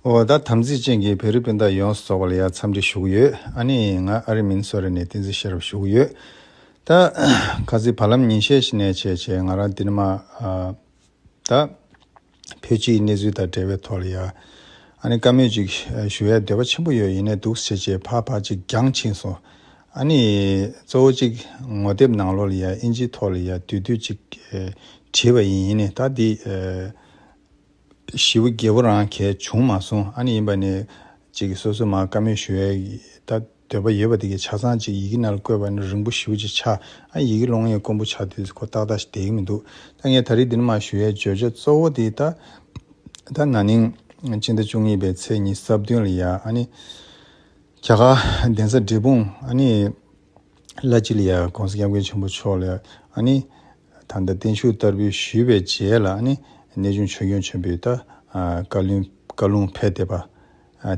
འོ་ད་དམ་ཚིག་ཅན་གྱི་བེ་རི་སྤུན་ཟླ་ཡོངས་སུ་ཚོགས་པ་ལ་ཡང་འཚམས་འདྲི་ཞུ་གི་ཡོད་ཨ་ནི་ང་ཨ་རི་མིན་སོ་རི་ནས་བསྟན་འཛིན་ཤེས་རབ་ཞུ་གི་ཡོད་ད། ཁ་ཚིག་བར་ལམ་ཉིན་ཤས་ཤིག་ནས་བྱས་བྱས་ང་རང་འདི་ནི་མ་ད། བོད་སྤྱིའི་གནས་ཚུལ་དང་འབྲེལ་བའི་ཐོག་ལ་ཡ་ཨ་ནི་བཀའ་མོལ་ཅིག་ཞུ་ཡའི་འདོད་པ་ཆེན་པོ་ཡོད་ཡིན་ནའི་འདུག་བྱས་བྱས་ཕར་ཕར་ཅིག་རྒྱང་ཕྱིན་སོང་ཨ་ནི། གཙོ་བོ་ཅིག་ངོ་དེབ་ནང་ལོགས་ལ་ཡ་ཨིན་ཇིའི་ཐོག་ལ་ཡ་དུས་དུས་ཅིག་བྲིས་པ་ཡིན་ཡིན་ནའི་ད་འདི། བཞི་བོ་བརྒྱད་བོ་རང་གལ་བྱུང་མ་སོང་ཨ་ནི་ཡིན་པ་ནས། ཅིག་གིས་སོ་སོས་མ་བཀའ་མོལ་ཞུ་ཡའི་ད་འདོད་པ་ཡོད་པ་དེ་གའི་ཆ་ཚང་ཅིག་ཡི་གེ་ནལ་བཀོད་པ་ནི་རིང་པོ་བཞི་བོ་ཅིག་ཆགས་ཨ་ཡི་གེ་སློང་ཡའི་དཀོན་པོ་ཆགས་དུས་སུ་ཁོ་ཏག་ཏག་ཞིག་བསྡད་ཀྱི་མི་འདུག་ད་ངས་ད་རིས་འདི་ནི་མ་ཞུ་ཡའི་བརྗོད་བྱ་གཙོ་བོ་དེ་ད་ད་ན་ནིང་སྤྱི་ཟླ་བཅུ་གཉིས་པའི་ཚེས་གཉིས་རྩ་བདུན་ལ་ཡ་ཨ་ནི་རྒྱ་གར་གདན་ས་འབྲས་སྤུངས་ཨ་ནི་བླ་སྤྱི་ལ་ཡ་གོང་ས་སྐྱབས་མགོན་ཆེན་པོ་མཆོག་ལ་ཡ་ཨ་ནི། ད་ལྟ་བརྟན་བཞུགས་བསྟར་འབུལ་ཞུས་པའི་རྗེས་ལ་ནི་གནས་ཆུང་ཆོས་འབྱོན་ཆེན་པོའི་ད་བཀའ་ལུང་ཕེབས་བསྡད་པ་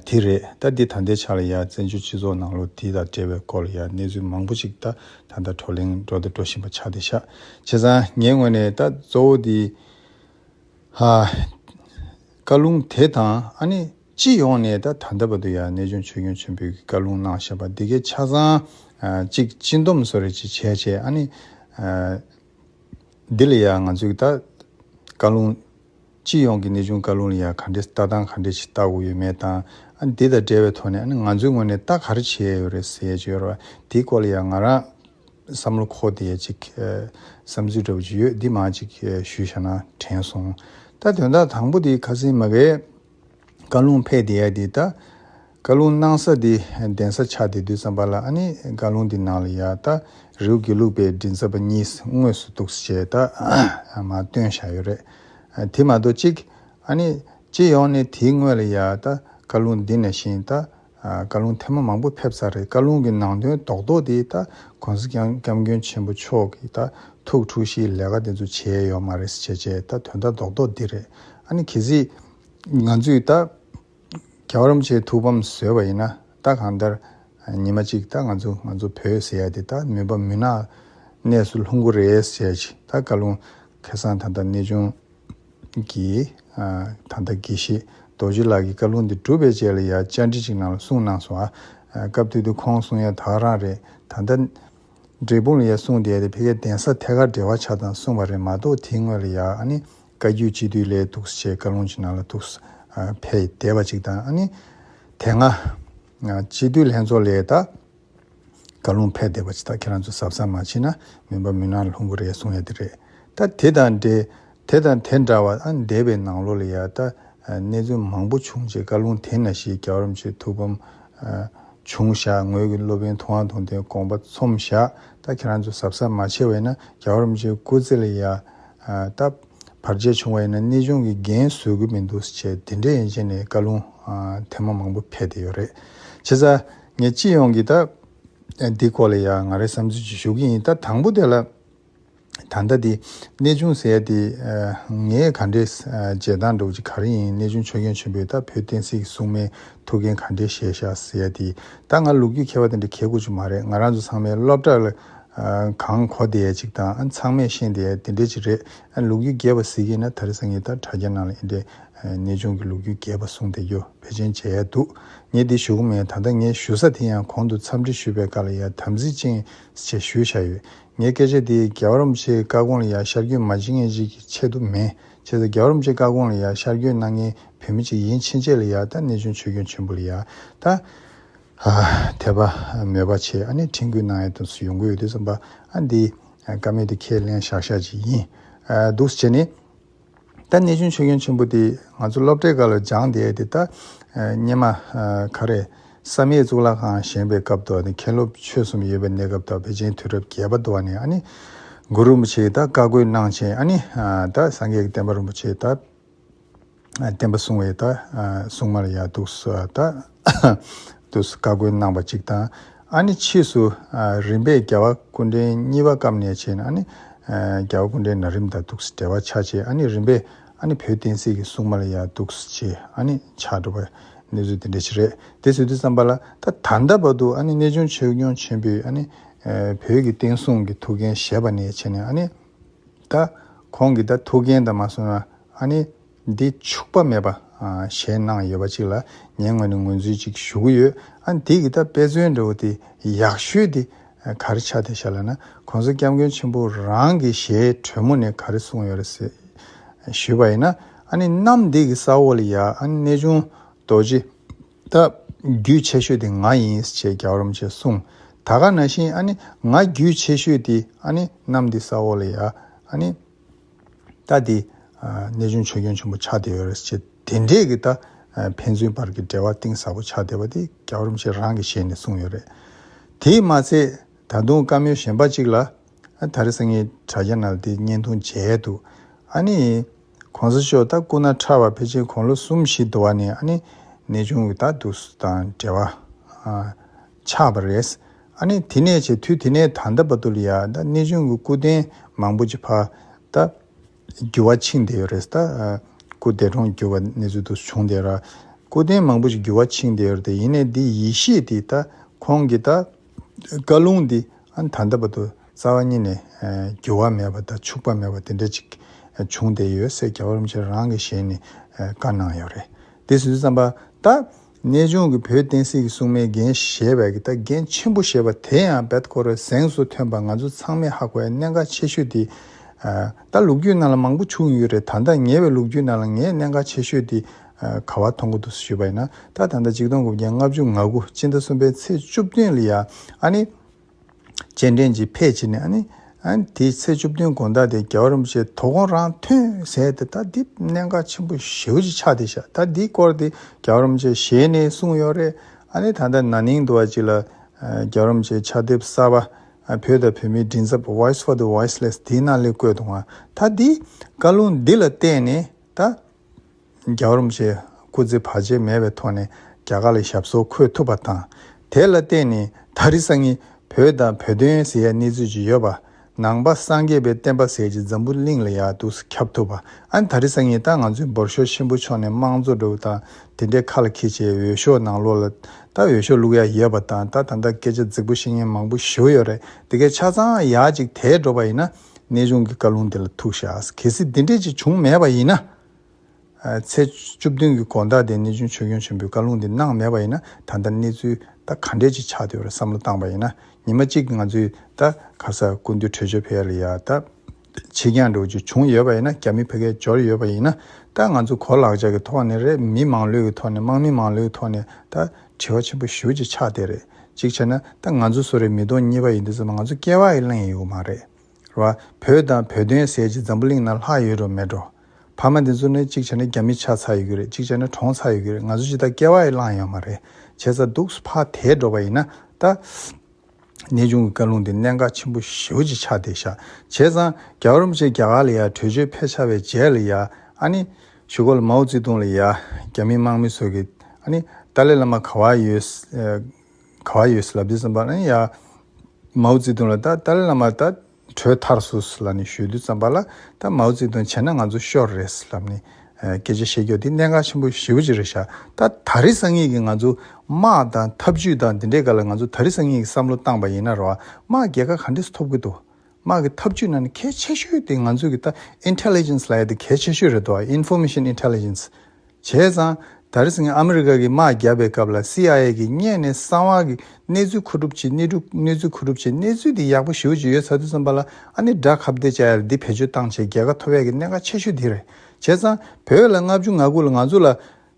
དེ་རེད་ད་འདི་ད་ལྟའི་ཆ་ལ་ཡང་བཙན་བྱོལ་སྤྱི་ཚོགས་ནང་ལོ་དེ་དང་འབྲེལ་བའི་སྐོར་ལ་ཡང་གནས་ཚུལ་མང་པོ་ཅིག་ད་ད་ལྟ་བགྲོ་གླེང་འགྲོ་དང་འགྲོ་བཞིན་པ་ཆགས་བསྡད་ཤག་བྱས་ཙང་ངའི་ངོས་ནས་ད་གཙོ་བོ་དེ་བཀའ་ལུང་དེ་དང་ཨ་ནི། སྤྱི་ཡོངས་ནས་ད་ད་ལྟ་བར་དུ་ཡང་གནས་ཆུང་ཆོས་སྐྱོང་ཆེན་པོའི་བཀའ་ལུང་གནང་བཞག་པ་འདི་གའི་ཆ་ཚང་གཅིག་སྤྱི་འདོམས་གསོལ་རས་ཅིག་བྱས་བྱས་ཨ་ནི། འདི་ལ་ཡང་ང་ཚོས་ད་བཀའ་ལུང། སྤྱི་ཡོངས་ཀྱི་གནས་ཆུང་བཀའ་ལུང་ལ་ཡང་ག་འདྲའི་ལྟ་སྟངས་ག་འདྲའི་ཆེ་བལྟ་དགོས་ཡོད་མེད་དང། ཨ་ནི་འདི་དང་འབྲེལ་བའི་ཐོག་ནས་ཨ་ནི་ང་ཚོའི་ངོས་ནས་ད་ག་རེ་བྱས་ཡོད་རེད་ཟེར་བྱས་ཡོད་རེད་བ་དེའི་སྐོར་ལ་ཡང་ང་རང། བསམ་བློ་འཁོར་ཏེ་ཡང་ཅིག་བསམ་ཚུལ་འདྲ་བོ་ཅིག་ཡོད་འདི་མང་ཅིག་ཞུས་བཞག་ན་དྲན་སོང། ད་དོན་དག་དང་པོ་དེ་ཁ་སེང་མ་གའི། བཀའ་ལུང་ཕལ་དེ་ཡལ་དེ་ལྟ། བཀའ་ལུང་སྣང་ས་དེ་གདན་ས་ཆགས་དེ་དུས་ཙམ་པ་ལ་ཨ་ནི་བཀའ་ལུང་འདི་སྣང་ལ་ཡལ་ལྟ། རེའུ་དགེ་ལུགས་པའི་མགྲིན་ཚབ་པ་གཉིས་དངོས་སུ་གཏུགས་སུ་བྱས་ལྟ། མ་སྟོན་བཞག་ཡོད་རེད། དེ་མ་གཏོགས་གཅིག། ཨ་ནི། སྤྱི་ཡོངས་ནས་དེའི་དངོས་ལ་ཡལ་ལྟ། བཀའ་ལུང་འདི་ནས་བཞེངས་ལྟ། བཀའ་ལུང་ཐེངས་མང་པོ་ཕེབས་ཚར་རེད་བཀའ་ལུང་གི་ནང་དོན་རྡོག་རྡོག་དེ་ད་གོང་ས་སྐྱབས་མགོན་ཆེན་པོ་མཆོག་གིས་ད་ཐུགས་འཁྲུག་གཞིའི་ལས་ཀ་དེ་ཚོ་བྱས་ཡོད་མ་རེད་བྱས་བྱས་ད་དོན་དག་རྡོག་རྡོག་འདི་རེད་ཨ་ནི་གལ་སྲིད་ང་ཚོས་ད་རྒྱ་རོམ་ཆེའི་ཐུགས་ཕམ་བཟོས་པ་ཡིན་ན་ད་གང་ལྟར་ཉི་མ་གཅིག་ད་ང་ཚོ་ང་ཚོ་བོད་ཟེར་ཡ་དེ་ད་མུན་པ་མུན་ནག་གནས་སུ་ལྷུང་གོ་རེད་བྱས་བྱས་ད་བཀའ་ལུང་ཁེ་སང་ད་ད་གནས་ཆུང། གིས། ད་ལྟ་དགེ་བཤེས་རྡོ་རྗེ་ལགས་ཀྱིས་བཀའ་ལུང་འདི་གྲུབ་པའི་རྗེས་ལ་ཡང་བཅར་འདྲི་ཅིག་གནང་ལ་གསུངས་གནང་སོང་ཨ། སྐབས་དུས་དུས་ཁོང་གསུངས་ཡང་དག་རང་རེད་ད། འདྲེ་དཔུང་ལ་ཡང་གསུངས་བསྡད་དེ་ཕལ་ཁའི་གདན་ས་ཐད་ཀར་འབྲེལ་བ་ཆགས་དང་གསུངས་པ་རེད་མ་གཏོགས་དེའི་སྔོན་ལ་ཡང་ཨ་ནི་བཀའ་བརྒྱུད་སྤྱི་འཐུས་ལས་ཐུགས་སྲས་བཀའ་ལུང་ཅིག་གནང་ལ་ཐུགས་སྲས་ཕལ་ཡིས་དད་པ་ཅིག་དང་ཨ་ནི། དེ་སྔ། སྤྱི་འཐུས་ལྷན་ཚོགས་ལས་དང། བཀའ་ལུང་ཕལ་བདེ་བ་ཇི་ལྟར་ཁྱེད་རང་ཚོས་ཟབ་ས་མ་མཆིས་ན་མིན་པ་མུན་ནག་ལྷུང་གི་རེད་གསུང་ཡ་དེ་རེད་ད་དེ་དང་འདྲེ་དེ་དང་དེ་འདྲ་བ་ཨ་འདས་པའི་ནང་ལོ་ལ་ཡ་ད་གནས་ཚུལ་མང་པོ་བྱུང་རྗེས་བཀའ་ལུང་དེ་ན་ཞིག་རྒྱ་རོམ་ཆོས་ཐུགས་ཕམ་བྱུང་བཞག་ངོས་ཀྱི་སློབ་དཔོན་ཐུགས་ཨང་ཐུང་དེ་དགོངས་པ་ཚོམ་བཞག་ད་ཁྱེད་རང་ཚོས་ཟབ་ས་མ་མཆིས་བས་ན་རྒྱ་རོམ་ཆོས་སྐུ་ཚེ་ལ་ཡ་ད་བར་ཆད་བྱུང་བ་ཡིན་ན་གནས་ཆུང་གི་འགན་བཟོད་གི་མི་འདུག་ཅེས་དེ་འདྲའི་ཡན་ཆད་ནས་བཀའ་ལུང་དེ་མ་མང་པོ་ཕལ་བདེ་ཡོད་རེད་ཇི་ས། ངས་སྤྱི་ཡོངས་ཀྱི་ད། འདི་སྐོར་ལ་ཡང་ང་རེ་བསམ་ཚུལ་གཅིག་ཞུ་གི་ཡིན་ད་དང་པོ་དེ་ལ། ད་ལྟ་འདི་གནས་ཅུང་ཟད་དེ། ངས་ག་འདྲའི་བརྗེད་སྟངས་འགྲོ་གི་ག་རེ་ཡིན་གནས་ཅུང་ཆོས་རྒྱན་ཆེན་པོས་ད་བོད་བསྟན་སྲིད་ཀྱི་སྲུང་མའི་ཐུགས་འགན་ག་འདྲའི་བཞེས་ཤག་ཟེར་དེ། ད་ང་ལུག་རྒྱུད་མཁས་པ་དེ་འདྲ་གལ་དགོས་ཅིག་མ་རེད་ང་རང་ཚོ་ཚང་མའི་སློབ་གྲྭ་ལ། གང་གོ་བསྡད་ཅིག་དང་ཚང་མས་ཤེས་བསྡད་དེ་འདྲ་ཅིག་རེད་ཨ། ལུག་རྒྱུད་རྒྱས་པ་ཟེར་གི་ཡིན་ན་ད་རེ་ཟ་ངས་ད་དྲ་རྒྱ་ནང་ལ་ཨེ་འདྲའི་གནས་ཆུང་གི་ལུགས་རྒྱུད་རྒྱས་པ་གསུངས་དེ་རྒྱུ་བེད་ཅན་བྱས་ཡས་འདུག་ངས་འདི་ཞུ་གི་མེད་ད་ལྟ་ངས་ཞུ་ས་དེ་ཡང་གོང་དུ་འཚམས་འདྲི་ཞུས་པའི་བཀའ་ལ་ཡར་དམ་ཚིག་ཅན་ཞེས་ཞུ་བཞག་ཡོད་ངའི་སྐད་ཆ་དེ་རྒྱ་བ་རོམ་ཕྱིའི་བཀའ་དགོངས་ལ་ཡར་ཤར་བསྐྱོད་མ་བྱེད་མཁན་ཞིག་གི་ཆེད་དུ་མེད་བྱས་ཙང་རྒྱ་བ་རོམ་ཕྱིའི་བཀའ་དགོངས་ལ་ཡར་ཤར་བསྐྱོད་གནང་མཁན་བོད་མི་ཅིག་ཡིན་ཕྱིན་ཆད་ལ་ཡར་ལྟ་གནས་ཆུང་ཆོས་སྐྱོང་ཆེན་པོ་ལ་ཡར་ལྟ་དད་པ་མོས་པ་ཆེ་ཨ་ནི་ཁྲིན་ཀུན་གནང་ཡས་དུས་སུ་ཡོང་གི་ཡོད་དུས་སམ་པ་ཨ་འདི་བཀའ་མེད་དུ་ཁས་ལེན་བཞག་བཞག་ཅིག་ཡིན་འདུག་བྱས་ནས། ད་གནས་ཆུང་ཆོས་སྐྱོང་ཆེན་པོ་འདི་ང་ཚོ་སློབ་གྲྭའི་སྐབས་ལ་སྦྱངས་བསྡད་དེ་ད་སྙེ་མ་ག་རེ། བསམ་ཡས་གཙུག་ལག་ཁང་བཞེངས་པའི་སྐབས་དུ་ནི་མཁན་སློབ་ཆོས་གསུམ་ཡོད་པའི་གནས་སྐབས་དང་བེ་ཅན་དུས་རབས་བརྒྱད་པ་དུ་བ་ནས་ཨ་ནི། གུ་རུ་རིན་པོ་ཆེའི་ད་བཀའ་བསྒོས་གནང་ཆེན་ཨ་ནི། ད་སངས་རྒྱས་ཀྱི་བསྟན་པ་རིན་པོ་ཆེའི་ད་བསྟན་པ་བསྲུང་བའི་ད་བསྲུང་མར་ཡག་འདུག་སུ་ཨ་ད། དུ་བཀའ་བཀོད་གནང་བ་གཅིག་དང། ཨ་ནི་ཕྱིས་སུ་རིམ་པས་རྒྱལ་བ་ཀུན་འདྲེན་གཉིས་པ་སྐབས་ནས་བྱས་ནས་ཨ་ནི། རྒྱལ་བ་ཀུན་འདྲེན་ན་རིམ་དང་དུག་སྦྲེལ་བ་ཆ་བྱེད་ཨ་ནི་རིམ་པས་ཨ་ནི་བོད་བསྟན་སྲིད་ཀྱི་སྲུང་མ་ལ་ཡང་དུག་སྦྱེ་ཨ་ནི་ཆ་འགྲོ་བ། གནས་ཚུལ་དེ་འདྲའི་ཆེ་རེད་དེ་ཟེར་དུས་བསམ་པ་ལ་ད་ད་ལྟ་བར་དུ་ཨ་ནི་གནས་ཆུང་ཆོས་སྐྱོང་ཆེན་པོས་ཨ་ནི། བོད་ཀྱི་བསྟན་སྲུང་གི་ཐུགས་འགན་བཞེས་པ་ནས་བྱས་ནས་ཨ་ནི། ད་ཁོང་གིས་ད་ཐུགས་འགན་དང་མ་སོན་ན་ཨ་ནི། འདི་འཕྱུགས་པ་མེད་པ། ཞེས་གནང་ཡོད་པ་ཅིག་ལ་ངའི་ངོས་ནས་ངོས་འཛུལ་ཅིག་ཞུ་གི་ཡོད། ཨ་འདི་གི་ད་དཔེ་མཚོན་འདྲ་བོ་དེ་ཡག་ཤོས་དེ་ག་རེ་ཆ་དེ་ཤ་ལ་ན་གོང་ས་སྐྱབས་མགོན་ཆེན་པོ་རང་གི་ཞལ་དྲོད་མོ་ནས་ག་རེ་གསུངས་ཡོད་རེད་ཟེར་ཞུས་པ་ཡིན་ན་ཨ་ནི་གནམ་འདེགས་ཀྱི་ས་འོག་ལ་ཡ་ཨ་ནི་གནས་ཆུང་རྡོ་རྗེ་ད་རྒྱུད་ཆེ་ཤོས་དེ་ང་ཡིན་ཞེས་རྒྱག་རོམ་ཞེས་གསུངས་ད་ག་ན་བཞིན་ཨ་ནི་ང་རྒྱུད་ཆེ་ཤོས་དེ་ཨ་ནི་གནམ་འདེགས་ས་འོག་ལ་ཡ་ཨ་ནི། ད་དེ། གནས་ཆུང་ཆོས་སྐྱོང་ཆེན་པོ་ཕྱག་བདེ་བའི་ཆེད་དེ་འདྲས་ཀྱི་ད། ཕན་ཚུན་བར་གྱི་འབྲེལ་བ་གཏིང་ཟབ་པོ་ཆགས་བསྡད་པ་དེ་རྒྱ་རོམ་ཕྱིར་རང་གི་ཞལ་ནས་གསུངས་ཡོད་རེད། དེས་མ་ཚད། ད་དུང་བཀའ་མོལ་གཞན་པ་གཅིག་ལ། ད་རེས་ངའི་དྲ་རྒྱ་ནང་དེ་བརྙན་ཐུང་མཇལ་འདུག་ཨ་ནི། གོང་ས་མཆོག་ད་སྐུ་ན་ཕྲ་བ་ཕལ་ཆེར་གོང་ལོ་གསུམ་བཞི་བསྡོ་བ་ནས་ཨ་ནི། གནས་ཆུང་གི་ད་འདུག་སུ་དང་འབྲེལ་བ། ཆགས་པ་རེད། ཨ་ནི་དེ་ནས་བྱས་དུས་དེ་ནས་ད་ལྟ་བར་དུ་ལ་ཡང་ད་གནས་ཆུང་གི་སྐུ་རྟེན་མང་པོ་ཅིག་ཕ་ད་འགྱུར་བ་ཕྱིན་བསྡད་ཡོད་རེད། ད་སྐུ་བདེ་གྲོང་བསྒྱུར་བ་གནས་ཚུལ་དུ་བྱུང་བསྡད། སྐུ་རྟེན་མང་པོ་ཅིག་འགྱུར་བ་ཕྱིན་བསྡད་ཡོད་རེད་ཡིན་ནའི་འདི་ཡེ་ཤེས་འདི་ད་ཁོང་གི་ད་བཀའ་ལུང་འདི་ཨ་ནི་ད་ལྟ་བར་དུ་རྩ་བ་ཉིད་ནས་འགྱུར་བ་མེད་པ་ད་འཕྱུགས་པ་མེད་པ་དེ་འདྲ་ཅིག་བྱུང་བསྡད་ཡོད་སེ་རྒྱ་གར་བ་རིན་ཆེན་རང་གི་ཞལ་ནས་བཀའ་གནང་ཡོད་རེད་དེ་སུས་བརྩམས་པ་ད་གནས་ལྗོངས་ཀྱི་བོད་བསྟན་སྲིད་ཀྱི་སྲུང་མའི་འགན་བཞེས་པའི་ཀྱི་ད་འགན་ཆེན་པོ་ཞེས་པ་དེ་ཡང་བེད་ཁོ་རོའི་གཟེངས་སུ་ཐོན་པ་ང་ཚོ་ཚང་མས་ཧ་གོ་བའི་གནད་འགག་ཆེ་ཤོས་དེ། ད་ལུག་རྒྱུད་ནང་ལ་མང་པོ་བྱུང་ཡོད་རེད་ད་ལྟ་ཉེ་བའི་ལུག་རྒྱུད་ནང་ལ་ངས་གནད་འགག་ཆེ་ཤོས་དེ། ག་བ་མཐོང་གི་འདུག་ཞུས་པ་ཡིན་ན་ད་ད་ལྟ་གཅིག་སྟོང་དགུ་བརྒྱ་ལྔ་བཅུ་ང་དགུ་སྤྱི་ཟླ་གསུམ་པའི་ཚེས་བཅུ་བདུན་ལ་ཡ་ཨ་ནི། སྤྱན་འདྲེན་གྱིས་ཕེབས་བྱས་ནས། དེའི་ཚེ་བཅུ་བདུན་དགོན་བདག་དེས་རྒྱལ་བ་རིན་པོ་ཆེའི་དོ་དགོང་རང་མཐུན་ཟས་དེ་དག་འདི་གནད་འགག་ཆེན་པོ་བཞི་བོ་ཅིག་ཆགས་ཏེ་བཞག་ད་འདིའི་སྐོར་དེ་རྒྱལ་བ་རིན་པོ་ཆེས་ཞལ་ནས་གསུངས་ཡོད་རེད། ད་ལྟ་ན་ནིང་དུ་བ་ཅིག་ལ། རྒྱལ་བ་རིན་པོ་ཆེའི་ཕྱག་དེབ་གསར་པ། བོད་དང་བོད་མིའི་མགྲིན་ཚབ Voice for the Voiceless དེའི་ནང་ལས་བཀོད་འདུག་ང་ད་འདིའི་བཀའ་ལུང་འདི་ལ་བལྟས་ནས་ད། རྒྱའུ་རུམ་བཅས་སྐུ་ཚེ་བར་ཆད་མེད་པའི་ཐོག་ནས་རྒྱ་གར་ལ་ཞབས་སོར་འཁོད་ཐུབ་པ་དང། དེ་ལ་བརྟེན་ནས་ད་རེས་སང་ཉིན་བོད་དང་བོད་དོན་ཟེར་ཡ་གནས་ཚུལ་ཅིག་ཡོད་པ། ནང་པ་སངས་རྒྱས་པའི་བསྟན་པ་ཟེར་གྱི་འཛམ་བུ་གླིང་ལ་ཡ་དུག་སེ་ཁྱབ་ཐུབ་པ་ཨ་ད་རེས་སང་ཉིན་ད་ང་ཚོའི་འབོར་ཤོར་ཆེན་པོ་ཕྱོགས་ནས་དམངས་གཙོ་སྒྲུབ་དང་དེ་འདྲའི་ཁ་ལ་ཁྱི་བྱས་འོས་ཤོག་ནང་ལོག་ལ་ད་འོས་ཤོག་བླུག་ཡ་ཡོད་པ་དང་ད་ད་ད་སྐད་ཆ་རྫིག་པོ་བཤད་ཉན་མང་པོ་ཞུ་ཡོད་རེད་དེ་གའི་ཆ་ཚང་ཡག་ཅིག་དེས་འགྲོ་པ་ཡིན་ན། གནས་ཆུང་གི་བཀའ་ལུང་འདི་ལ་ཐུགས་བཞག་གལ་སྲིད་འདི་འདྲས་ཅིག་བྱུང་མེད་པ་ཡིན་ན། ཚེས་བཅུ་བདུན་གྱི་དགོངས་དག་དེ་གནས་ཆུང་ཆོས་སྐྱོང་ཆེན་པོས་བཀའ་ལུང་འདི་གནང་མེད་པ་ཡིན་ན་ད་ལྟ་གནས་ཚུལ་ད་ག་འདྲས་ཅིག་ཆགས་འདུག་རེད་བསམ་བློ་བཏང་པ་ཡིན་ན་ཉི་མ་གཅིག་ང་ཚོས་ད་ག་ས་ཀུན་འདུས་བྲོས་བྱོལ་ཕེབས་ལ་ཡ་ད་ཕྱི་གྱང་འགྲོ་རྒྱུ་བྱུང་ཡོད་པ་ཡིན་ན་རྒྱ་མི་ཕལ་སྐད་འབྱོར་ཡོད་པ་ཡིན་ན་ད་ང་ཚོ་གོ་ལག་ཆགས་ཀྱི་ཐོག་ནས་རེ་མི་མང་ལོས་ཀྱི་ཐོག་ནས་དམག་མི་མང་ལོས་ཀྱི་ཐོག་ནས་ད། དྲི་བ་ཆེན་པོ་ཞུ་རྒྱུ་ཆགས་དེ་རེད་གཅིག་བྱས་ན་ད་ང་ཚོ་སུ་རེད་མི་གཏོང་གཉིས་པ་ཡིན་དུས་ཚོད་ལ་ང་ཚོ་སྐྱེ་བ་ཡི་གླེང་ཡི་ཡོད་མ་རེད་རོ། བོད་དང་བོད་དོན་ཟེར་གྱི་འཛམ་བུ་གླིང་ན་ལྷག་ཡོད་རོ་མེད་རོ། ཕ་མ་འདི་ཚོ་ནི་གཅིག་བྱས་ན་རྒྱ་མི་ཆགས་ཚར་ཡོད་ཀྱི་རེད་གཅིག་བྱས་ན་གྲོངས་ཚར་ཡོད་ཀྱི་རེད་ང་ཚོ་ཅི་ད་སྐྱེ་བ་ཡི་གླང་ཡོད་མ་རེད་བྱས་ཚར་འདུག་སུ་ཕ་དེས་འགྲོ་བ་ཡིན་ན་ད། གནས་ཆུང་གི་བཀའ་ལུང་དེ་གནད་འགག་ཆེན་པོ་བཞི་བོ་ཅིག་ཆགས་ཏེ་བཞག་བྱས་ཙང་རྒྱ་རོམ་ཅན་རྒྱ་གར་ལ་ཡང་བྲོས་བྱོལ་ཕེབས་ཆགས་པའི་རྗེས་ལ་ཡང་ཨ་ནི་ཞུ་གོ་ལ་མའོ་ཙི་ཏུང་ལ་ཡང་རྒྱ་མི་དམག་མི་ཚོ་གིས་ཨ་ནི་ཏཱ་ལའི་བླ་མ་ག་བ་ཡོད་ག་བ་ཡོད་སི་ལབ་ཏི་སེམས་པ་ཨ་ནི་ཡང་མའོ་ཙི་ཏུང་ལ་ད་ཏཱ་ལའི་བླ་མ་ད་གྲོས་ཐར་སུ་སུ་ལ་ནི་ཞུས་དུས་བརྩམས་པ་ལ་ད་མའོ་ཙེ་ཏུང་བྱས་ན་ང་ཚོ་ཤོར་རེད་ཟེར་ལབ་ནི། སྐད་ཆ་བཤད་རྒྱུ་འདི་གནད་འགག་ཆེན་པོ་བཞི་བོ་གཅིག་རེད་ཤག་ད་ད་རི་སང་ངེད་ཀྱི་ང་ཚོ་དམག་དང་ཐབས་ཇུས་དང་འདི་འདྲའི་སྐར་ལ་ང་ཚོ་ད་རི་སང་ངེད་ཀྱི་བསམ་བློ་བཏང་པ་ཡིན་ན་རོ་དམག་རྒྱལ་ཁ་ག་འདྲས་སུ་ཐོབ་ཀྱི་འདུག་དམག་གི་ཐབས་ཇུས་ནང་ནས་གལ་ཆེ་ཤོས་དེ་ང་ཚོ་གི་ད Intelligence ལ་ཡ་དེ་གལ་ཆེ་ཤོས་རེད་དོ Information Intelligence། བྱས་ཙང་ད་རེས་ངས་ཨ་མི་རི་ཀ་གིས་དམག་བརྒྱབ་པའི་སྐབས་ལ་སི་ཨའི་ཨེ་གིས་བརྙན་ནས་གསང་བ་གི་གནས་ཚུལ་མཁོ་སྒྲུབ་བྱེད་གནས་སྒྲུབ་གནས་ཚུལ་མཁོ་སྒྲུབ་བྱེད་གནས་ཚུལ་དེ་ཡག་པོ་ཞིག་ཞུ་ཡོད་ཚར་དུས་བསམ་པ་ལ་ཨ་ནི་དགྲ་ཁ་བདེ་བྱ་ཡར་འདི་བེད་སྤྱོད་བཏང་བྱས་རྒྱལ་ཁ་ཐོབ་བས་ཀྱི་གནད་འགག་ཆེ་ཤོས་དེ་རེད་བྱས་ཙང་བོད་ལ་ལྔ་བཅུ་ང་དགུ་ལ་ང་ཚོ་ལ་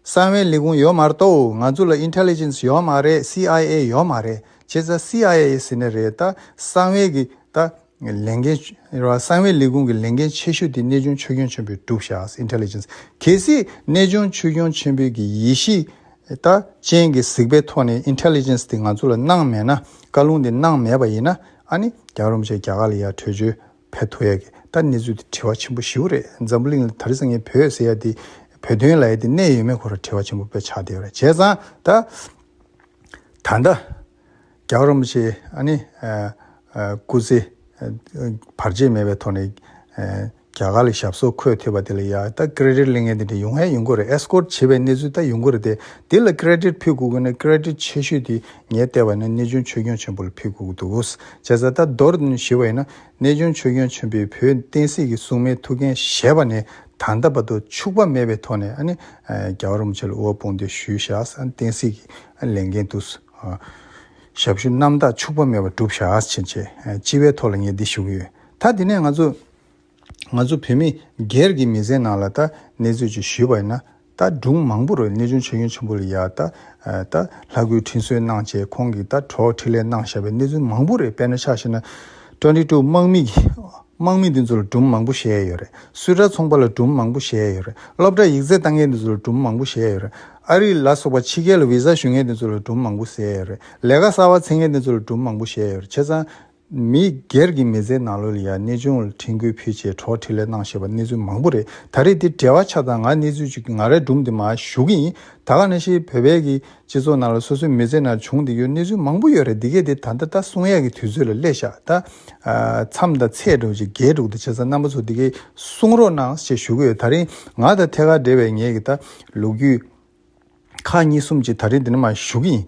གསང་བའི་ལས་ཁུངས་ཡོད་མ་རྟོག་ང་ཚོ་ལ Intelligence ཡོད་མ་རེད་སི་ཨའི་ཨེ་ཡོད་མ་རེད་བྱས་ཙང་སི་ཨའི་ཨེ་ཟེར་ནས་རེད་ད་གསང་བས་ཀྱི་ད། ལས་འགན། གསང་བའི་ལས་ཁུངས་ཀྱི་ལས་འགན་ཆེ་ཤོས་དེ་གནས་ཆུང་ཆོས་སྐྱོང་ཆེན་པོའི་གྲུབ་ཤཱས Intelligence གལ་སྲིད་གནས་ཆུང་ཆོས་སྐྱོང་ཆེན་པོའི་གྱི་ཡེ་ཤེས་ད་ཅན་གྱི་གཟིགས་པའི་ཐོག་ནས Intelligence དེ་ང་ཚོ་ལ་གནང་མེད་ན་བཀའ་ལུང་དེ་གནང་མེད་པ་ཡིན་ན་ཨ་ནི་རྒྱ་རོམ་བཅས་རྒྱ་གར་ལ་ཡར་བྲོས་བྱོལ་ཕེབས་ཐུབ་ཡག་གི་ད་གནས་ཚུལ་དེ་དྲི་བ་ཆེན་པོ་བཞི་བོ་རེད་འཛམ་བུ་གླིང་ལ་ད་རེས་ངས་བོད་ཟེར་ཡ་དེ་བོད་དོན་ལ་ཡ་དེ་གནད་ཡོད་མེད་ཁོ་ར་དྲི་བ་ཆེན་པོ་བོད་ཆགས་དེ་བ་རེད་བྱས་ཙང་ད། ད་ལྟ། རྒྱག་རོམ་ཞེས་ཨ་ནི། སྐུ་ཚེ། བར་ཆད་མེད་པའི་ཐོག་ནས། རྒྱ་གར་ལ་ཞབས་སོར་འཁོད་ཐུབ་པ་དེ་ལ་ཡ་ད Credit གླེང་མཁན་དེ་འདྲ་ཡོང་ཨེ་ཡོང་གི་རེད Escort བྱེད་པའི་གནས་ཚུལ་ད་ཡོང་གི་རེད་དེ་དེ་ལ Credit ཕུལ་དགོས་གི་ནི Credit ཆེ་ཤོས་དེ་ངས་བལྟས་པ་ནི་གནས་ཆུང་ཆོས་སྐྱོང་ཆེན་པོ་ལ་ཕུལ་དགོས་གི་འདུག་བྱས་ཙང་ད་མདོར་ཞི་བ་ཡིན་ན་གནས་ཆུང་ཆོས་སྐྱོང་ཆེན་པོས་བོད་བསྟན་སྲིད་ཀྱི་སྲུང་མའི་ཐུགས་འགན་བཞེས་པ་ནི་ད་ལྟ་བར་དུ་འཕྱུགས་པ་མེད་པའི་ཐོག་ནས་ཨ་ནི། རྒྱག་རོམ་བྱེད་ལ་དབུལ་ཕོངས་འདི་ཞུས་བཞག་བསྟན་སྲིད་ཀྱི། ལས་འགན་དུ། ཞབས་ཞུ་རྣམ་དག་འཕྱུགས་པ་མེད་པར་བསྒྲུབ་བྱ་ཨས་བྱེད་ཆེད་སྤྱི་བའི་ཐོག་ལ་ངས་འདི་ཞུ་གི་ཡོད། ད་དེ་ནས་ང་ཚོ། ང་ཚོ་བོད་མི་སྒེར་གྱི་མི་ཚེའི་ནང་ལ་ད་གནས་ཚུལ་ཅིག་ཞུས་པ་ཡིན་ན། ད་སྒྲུང་མང་པོ་རེ་གནས་ཆུང་ཆེ་གཡོན་ཆེན་པོ་ལ་ཡ། ད་ད་ལྷ་དགུའི་འཕྲིན་གསོལ་གནང་རྗེས་ཁོང་གིས་ད་གྲོགས་འཕྲིན་ལས་གནང་བཞག་པའི་གནས་ཚུལ་མང་པོ་རེ་དཔེར་ན་ཆ་བཞིན་ན། Twenty Two དམག་མི་གིས་དམག་མི་འདི་ཚོ་ལ་སྒྲུང་མང་པོ་བཤད་ཡས་ཡོད་རེད། སུད་ར་ཚོང་པ་ལ་སྒྲུང་མང་པོ་བཤད་ཡས་ཡོད་རེད། སློབ་གྲྭ་ཡིག་རྩལ་བཏང་མཁན་འདི་ཚོ་ལ་སྒྲུང་མང་པོ་བཤད་ཡས་ཡོད་རེད། ཨ་རི་ལ་སོགས་པ་ཕྱི་རྒྱལ་ལ Visa ཞུ་མཁན་དེ་ཚོ་ལ་གྲུབ་མང་པོ་བཟས་ཡོད་རེད། ལས་ཀ་གསར་བ་འཚེ་མཁན་དེ་ཚོ་ལ་གྲུབ་མང་པོ་བཞེས་ཡོད་རེད་བྱས་ཙང། མི་སྒེར་གྱི་མི་ཚེའི་ནང་ལོ་ལ་ཡང་གནས་ཆུང་ལ་འཕྲིན་སྐུལ་ཕུལ་ཆེད་གྲོགས་འཕྲིན་ལས་གནང་བཞེས་པ་གནས་ཚུལ་མང་པོ་རེད་ད་རེས་འདི་བྲལ་བ་ཆགས་ཙང་ང་གནས་ཚུལ་བཅུ་གྱི་ང་རས་སྒྲུང་འདི་མ་ཞུ་གི་ཡིན་ད་ག་ནས་ཤེས་བོད་པའི་གི་སྤྱི་ཚོགས་ནང་ལ་སོ་སོའི་མི་ཚེ་ནང་བྱུང་འདི་ཡོད་གནས་ཚུལ་མང་པོ་ཡོད་རེད་འདི་གས་འདི་ད་ལྟ་ད་གསུང་ཡས་ཀྱི་དུས་ཚོད་ལ་སླེ་བཞག་ད། མཚམས་དང་ཚེས་དྲུག་ཅིག་བརྒྱད་དྲུག་ད་བྱས་ཙང་རྣམ་པ་ཚོ་འདི་གས་གསུང་རོགས་གནང་ཞེས་ཞུ་གི་ཡོད་ད་རེས་ང་ད་ཐད་ཀར་འབྲེལ་བས་ངས་གི་ད་ལུག་རྒྱུད། ཁག་གཉིས་གསུམ་གྱིས་ད་རེས་འདི་ནི་མ་ཞུ་གི་ཡིན།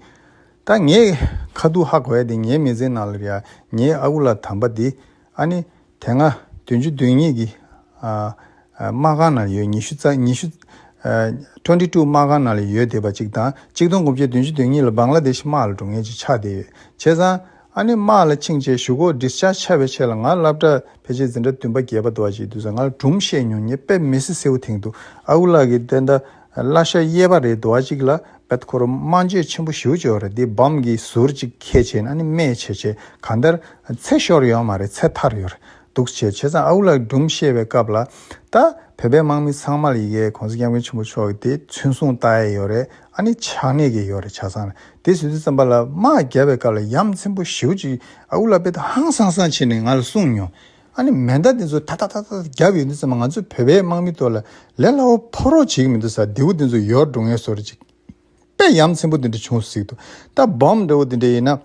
ད་ངས་ཁ་སྡུག་ཧ་གོ་ཡ་དེ་ངའི་མི་ཚེའི་ནང་ལ་རེད་ཡ་ངའི་ཨ་ཁུ་ལ་དམ་པ་དེ་ཨ་ནི། དེ་སྔ་བདུན་ཅུ་བདུན་གཉིས་ཀྱི། དམག་ཁང་ནང་ལ་ཡོད་ཉི་ཤུ་རྩ་ཉི་ཤུ། Twenty Two། དམག་ཁང་ནང་ལ་ཡོད་བསྡད་པ་གཅིག་དང་གཅིག་སྟོང་དགུ་བརྒྱ་བདུན་ཅུ་བདུན་གཉིས་ལ་སྦང་ལ་དེ་ཤི་དམག་ལ་འགྲོ་ངེས་ཀྱི་ཆགས་བསྡད་ཡོད་བྱས་ཙང། ཨ་ནི་མ་ལ་ཆིངས་བཅས་ཞུ་གོ Discharge བྱ་བའི་ཆེད་ལ་ང་བླ་བྲ་བེ་རྗེ་འཛིན་གྲྭ་བདུན་པ་བརྒྱད་པ་དུ་བ་ཞིག་དུས་སུ་ང་ལ་གྲུམ་བཤད་ཉུང་ཉེ་དཔེ་མི་སྲིད་སེའུ་ཐེང་དུ་ཨ་ཁུ་ལགས་ཀྱིས་དེ་འདྲ་བླ་ཤ་གཡས་པ་རེད་དུ་བ་ཅིག་ལ་བེད་ཁོ་རུ་སྨྲ་བརྗོད་ཆེན་པོ་ཞུ་བྱོས་རེད་དེ་བམ་གྱི་ཟུར་ཅིག་ཁས་བྱས་ནས་ཨ་ནི་མས་བྱས་བྱས་ག་འདར་ཚེ་ཤོར་ཡོད་མ་རེད་ཚེ་ཐར་ཡོད་རེད་འདུག་བྱས་བྱས་ཙང་ཨ་ཁུ་ལགས་ཀྱིས་གྲུམ་བཤད་པའི་སྐབས་ལ་ད་བོད་པའི་དམག་མི་ཚང་མ་ལ་ཡི་གེ་གོང་ས་སྐྱབས་མགོན་ཆེན་པོ་མཆོག་གིས་དེ་ཚུན་བཟུང་བལྟ་ཡས་ཡོད་རེད་ཨ་ནི་ཆགས་གནས་ཀྱི་ཡོ་རེ་ཆ་ཚང་ལ་དེ་ཟོས་དུས་ཙམ་པ་ལ་དམག་རྒྱབ་པའི་སྐབས་ལ་ཡམ་ཚིམ་པོ་ཞིའུ་གཅིག་ཨའུ་ལ་པེ་ཏོ་ཧང་སང་སང་བྱེད་ནས་ང་ལ་གསུངས་མྱོང། ཨ་ནི་མེ་མདའ་དེ་ཚོ་ཐ་ཐ་ཐ་ཐ་རྒྱབ་ཡོད་དུས་ཙམ་པ་ང་ཚོ་བོད་པའི་དམག་མི་ཚོ་ལ་ལས་སླ་བོ་ཕོག་རོགས་བྱེད་ཀྱི་མི་འདུག་ས་རྡེའུ་དེ་ཚོ་ཡོར་འགྲོ་ངེས་བཟོ་རེ་བྱེད། པས་ཡམ་ཚིམ་པོ་དེ་འདྲ་བྱུང་ཟིག་འདུག་ད་སྦོམ་འདྲ་བོ་དེ་འདྲ་ཡིན་ན།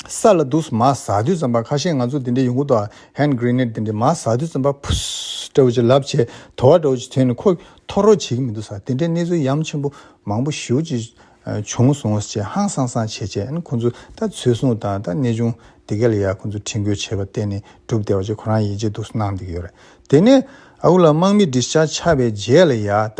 ས་ལ་འདུག་མ་ཟ་དུས་ཙམ་པ་ཁ་ཤས་ང་ཚོ་དེ་འདྲའི་ཡོང་གི་འདུག Hand Grenade དེ་འདྲས་མ་ཟ་དུས་ཙམ་པ Pussss འདྲ་བོ་ཅིག་ལབ་བྱས་དོ་བ་འདྲ་བོ་ཅིག་བྱས་ནས་ཁོ་ཐོ་རོ་བྱེད་ཀྱི་མི་འདུག་ས་དེ་འདྲའི་གནས་ཚུལ་ཡམ་ཆེན་པོ་མང་པོ་ཞིའུ་ཅིག་བྱུང་སོང་ངོ་ཅེས་ཧང་སང་སང་བྱས་བྱས་ནས་ཁོ་ཚོ་ད་ཚོད་བཟུང་དང་ད་གནས་ཆུང་དེ་ག་ལ་ཡག་ཁོ་ཚོ་ཁྲིད་འགོད་བྱས་པ་གཏན་ནས་འགྲུབ་བདེ་བ་ཅིག་ཁོ་རང་ཡིད་ཆེས་སྡུག་གསོ་གནང་འདུག་ཡོད་རེད་དེ་ནས་ཨ་ཁུ་ལ་དམག་མི་འདི་ཤ་ཆ་བའི་རྗེས་ལ་ཡ་ད།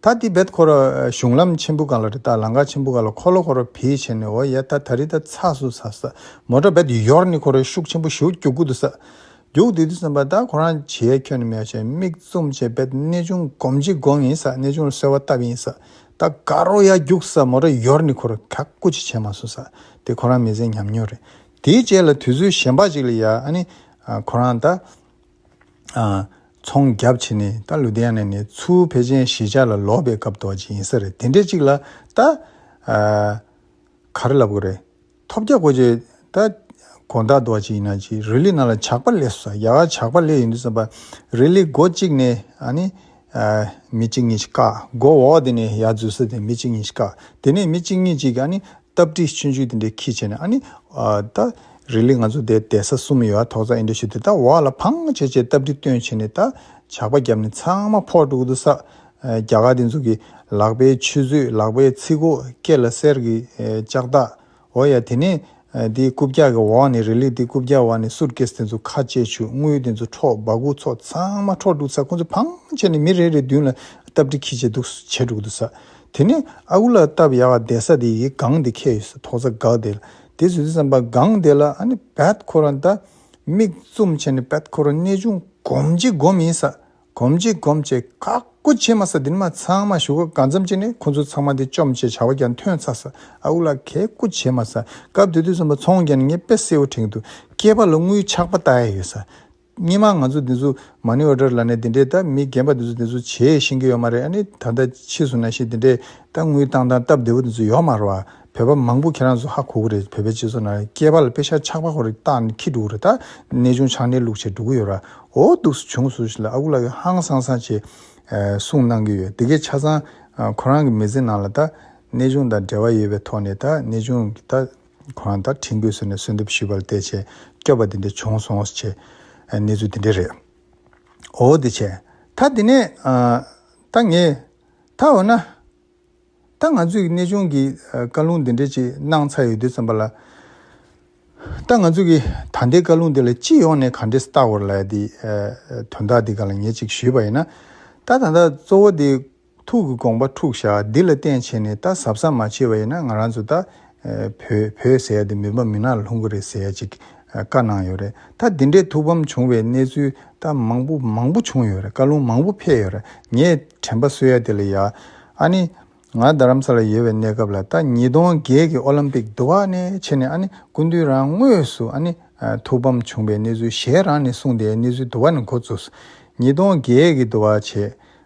ཐ་ཏི་བེད་ཁོ་ར་གཞུང་ལམ་ཆེན་པུ་ག་ལ་རི་ཏཱ་ལང་ཀ་ཆེན་པུ་ག་ལ་ཁོ་ལོ་ཁོ་ར་བྷི་ཆེ་ནི་ཨོ་ཡེ་ཏཱ་ཐ་རི་ཏཱ་ཚ་སུ་ཚ་སཱ་མོ་ཏྲ་བེད་ཡོར་ནི་ཁོ་རའི་ཤུགས་ཆེན་པུ་ཞུ་གྱུ་གུ་དུ་སཱ་གྱུག་དུས་དུ་སོན་པ་ཏཱ་ཁོ་རང་བྱེད་ཁྱོད་ནི་མེའོ་ཆེ་མིག་བཙུམ་བྱེད་བེད་གནས་ཆུང་གོམ་གྱི་གོང་ཡིན་སཱ་གནས་ཆུང་ལ་སོལ་བ་བཏབ་ཡིན་སཱ་ཏཱ་ག་རོ་ཡ་གྱུག་སཱ་མོ་ཏྲ་ཡོར་ནི་ཁོ་ར་ག་གུ་ཆེ་བྱེད་མ་སུ་སཱ་དེ་ཁོ་རང་མི་ཟེ་ཉམས་མྱོང་རེད་དེའི་རྗེས་ལ་དུས་ཚོད་གཞན་པ་ཅིག་ལ་ཡ་ཨ་ནི་ཁོ་རང་ཏཱ། ཚོང་རྒྱབ་བྱེད་ནི་ད་ལུ་དེ་ཡ་ནས་ནི་ཚུ་བེ་ཅན་གཞིས་ཆགས་ལ་ལོག་པའི་སྐབས་དོག་ཅིག་ཡིན་ས་རེད་དེ་འདྲས་ཅིག་ལ་ད་ག་རེ་ལབ་གི་རེད་ཐོབ་རྒྱ་གོ་ཅེ་ད་གོ་ད་དོག་ཅིག་ཡིན་ན་ཅིག་རི་ལི་ན་ལ་ཇག་པ་ལས་སོ་ཡ་ག་ཇག་པ་ལས་ཡོད་འདུག་བསམ་པ་རི་ལི་སྒོ་གཅིག་ནས་ནི་མི་གཅིག་གཉིས་ཤིག་བཀག་སྒོ་འོག་དེ་ནས་ཡ་འཛུལ་ས་དེ་མི་གཅིག་གཉིས་ཤིག་བཀག་དེ་ནས་མི་གཅིག་གཉིས་ཅིག་ག་ནི་སྟབས་འགྲིག་ཆུན་ཆུན་དེ་འདྲའི་ཁིས་བྱས་ནས་ཨ་ནི། ད། རི་ལི་ང་ཚོ་དེ་དེ་ས་གསུམ་ཡོད་ཨ་ཐོག་ཙག་ཨིན་འདྲ་ཞིག་དེ་ད་བ་ལ་ཕང་ངོ་བྱེད་ཅེས་སྟབས་འགྲིག་སྟོན་བྱེད་ནས་ད། ཇག་པ་བརྒྱབ་ནས་ཚང་མ་ཕོག་འགྲོ་གི་འདུག་ས། རྒྱ་གར་དེ་ཚོ་གི། ལག་པའི་ཆུ་ཚོད་ལག་པའི་ཚིག་གོ་སྐད་ལ་གསེར་གྱི་ལྕགས་ཐག། འོ་ཡ་དེ་ནས། དེའི་རྐུབ་བཀྱག་གི་འོག་ནས་རི་ལི་དེའི་རྐུབ་བཀྱག་འོག་ནས་སུར་ཀེས་དེ་ཚོ་ཁ་བཅད་ཆུ་དངུལ་དེ་ཚོ་འཕྲོག་སྦ་གུག་ཚོགས་ཚང་མ་འཕྲོག་འགྲོ་གི་ས་ཁོ་ཚོ་ཕང་ངོ་བྱས་ནས་མི་རེ་རེ་མདུན་ལ་སྟབས་འགྲིག་ཁིས་བྱས་འདུག་བྱེད་འགྲོ་གི་འདུག་ས། དེ་ནས་ཨ་ཁུ་ལ་སྟབས་ཡག་བསྡད་ས་དེ་ཡིས་སྒང་དེ་ཁེལ་ཡོད་ས་མཐོང་ས་དགའ་བསྡད་ལ་དེ་ཚོས་དེ་བསམ་པ་སྒང་དེ་ལ་ཨ་ནི་བད་ཁོ་རོ་ནྡ་མིག་བཙུམ་བྱས་ནས་བད་ཁོ་རོ་ནད་ཅུང་གོམས་ཅིག་གོམས་ཡིན་ས་གོམས་ཅིག་གོམས་བྱས་ཁག་པོ་བྱས་མ་ས་དེ་ནི་མ་ཚང་མ་བཞུགས་སྒར་གང་འཚམ་བྱས་ནས་ཁོ་ཚོ་ཚང་མ་དེ་བཅོམ་བྱས་བྱ་བ་ཀྱང་ཐོན་ཚར་ས་ཨ་ཁུ་ལ་གས་སྐུ་བྱས་མ་ས་སྐབས་དེ་དུས་བསམ་པ་ཚོང་ཀྱང་ནི་ངས་པད་སེའུ་ཁྲེང་དུ་སྐྱེས་པ་ལ་དངུལ་ཆག་པ་ལྟ་ཡས་ཡོད་ས་སྙན་མ་ང་ཚོ་འདི་ཚོ་མ་ཎི་འོད་དྲར་ལ་ནས་འདི་འདྲའི་ད་མི་རྒན་པ་འདི་ཚོ་འདི་ཚོ་བྱེད་ཤེས་ཀྱི་ཡོད་མ་རེད་ཨ་ནི་ད་ལྟ་ཕྱིས་སུ་ན་ཤེས་འདི་འདྲའི་ད་དངུལ་བཏང་སྟངས་སྟབས་བདེ་པོ་འདི་ཚོ་ཡོད་མ་རོ་ཨ་བོད་པ་མང་པོ་ཁྱེད་རང་ཚོ་ཧ་གོ་གི་རེད་བོད་པའི་སྤྱི་ཚོགས་ནང་སྐྱེས་པ་ལ་དཔེ་ཤ་ཆག་པ་ཧོར་རིགས་རྟགས་ནི་ཁྱི་འདྲུ་གི་རེད་ད་ནད་ཆུང་ཆག་ནད་ལུག་བྱེད་འདྲུ་གི་ཡོད་ར་ཨོ་སྡུག་སུ་བྱུང་སུ་ཞིག་ལ་ཨ་ཁུ་ལགས་ཀྱི་ཧང་སང་སང་བྱེད་གསུངས་གནང་གི་ཡོད་དེ་གས་ཆ་ཚང་ཁོ་རང་གི་མི་ཚེ་ནང་ལ་ད་ནད་ཆུང་དང་འབྲེལ་བ་ཡོད་པའི་ཐོག་ནས་ད་ནད་ཆུང་གི་ད། ཁོ་རང་ད་ཁྲིམས་བཀོད་ཟེར་ནས་གསོལ་འདེབས་ཞུས་པ་ལ་བལྟས་བྱས་སྐྱོབ་པ་དེ་འདྲ་བྱུང་སོང་ཟེར་བྱས། གནས་ཚུལ་དེ་འདྲ་རེད། འོ་དེ་བྱས། ད་དེ་ནས། ད་ངས། ད་འོ་ན། ད་ང་ཚོས་ཀྱི་གནས་ཆུང་གི་བཀའ་ལུང་དེ་འདྲ་ཅིག་གནང་ཚར་ཡོད་དུས་ཙམ་པ་ལ། ད་ང་ཚོས་ཀྱི་ད་ལྟའི་བཀའ་ལུང་འདི་ལ་སྤྱི་ཡོངས་ནས་ག་འདྲའི་བལྟ་བར་ལ་ཡ་དེ། དོན་དག་འདི་ག་ལ་ངས་ཅིག་ཞུས་པ་ཡིན་ན། ད་ད་ལྟ་གཙོ་བོ་དེ། ཐུགས་ཀྱི་དགོངས་པ་འཁྲུགས་བཞག་འདི་ལ་བརྟེན་བྱས་ནས་ད་གཟབ་གཟབ་མ་བྱས་པ་ཡིན་ན་ང་རང་ཚོ་ད་བོད་བོད་ཟེར་ཡ་དེ་མི་ཕམ་མི་ནག་ལ་ལྷུང་གི་རེད་ཟེར་ཡ་ཅིག་བཀའ་གནང་ཡོད་རེད་ད་འདི་འདྲའི་ཐུགས་ཕམ་བྱུང་བའི་གནས་ཚུལ་ད་མང་པོ་མང་པོ་བྱུང་ཡོད་རེད་བཀའ་ལུང་མང་པོ་ཕེབས་ཡོད་རེད་ངས་དྲན་པ་བསོད་ཡ་དེ་ལ་ཡ་ཨ་ནི་ང་རྡ་རམ་ས་ལ་ཡོད་པའི་གནས་སྐབས་ལ་ད་ཉིས་སྟོང་བརྒྱད་ཀྱི་ཨོ་ལམ་པིག་དུ་བ་ནས་ཕྱི་ནས་ཨ་ནི་སྐུ་མདུན་རང་དངོས་སུ་ཨ་ནི་ཐུགས་ཕམ་བྱུང་བའི་གནས་ཚུལ་གཞན་རང་ནས་གསུངས་དེའི་གནས་ཚུལ་དུ་བ་ནས་འགོ་བཙུགས་སོ་ཉིས་སྟོང་བརྒྱད་ཀྱི་དུ་བ་བྱས་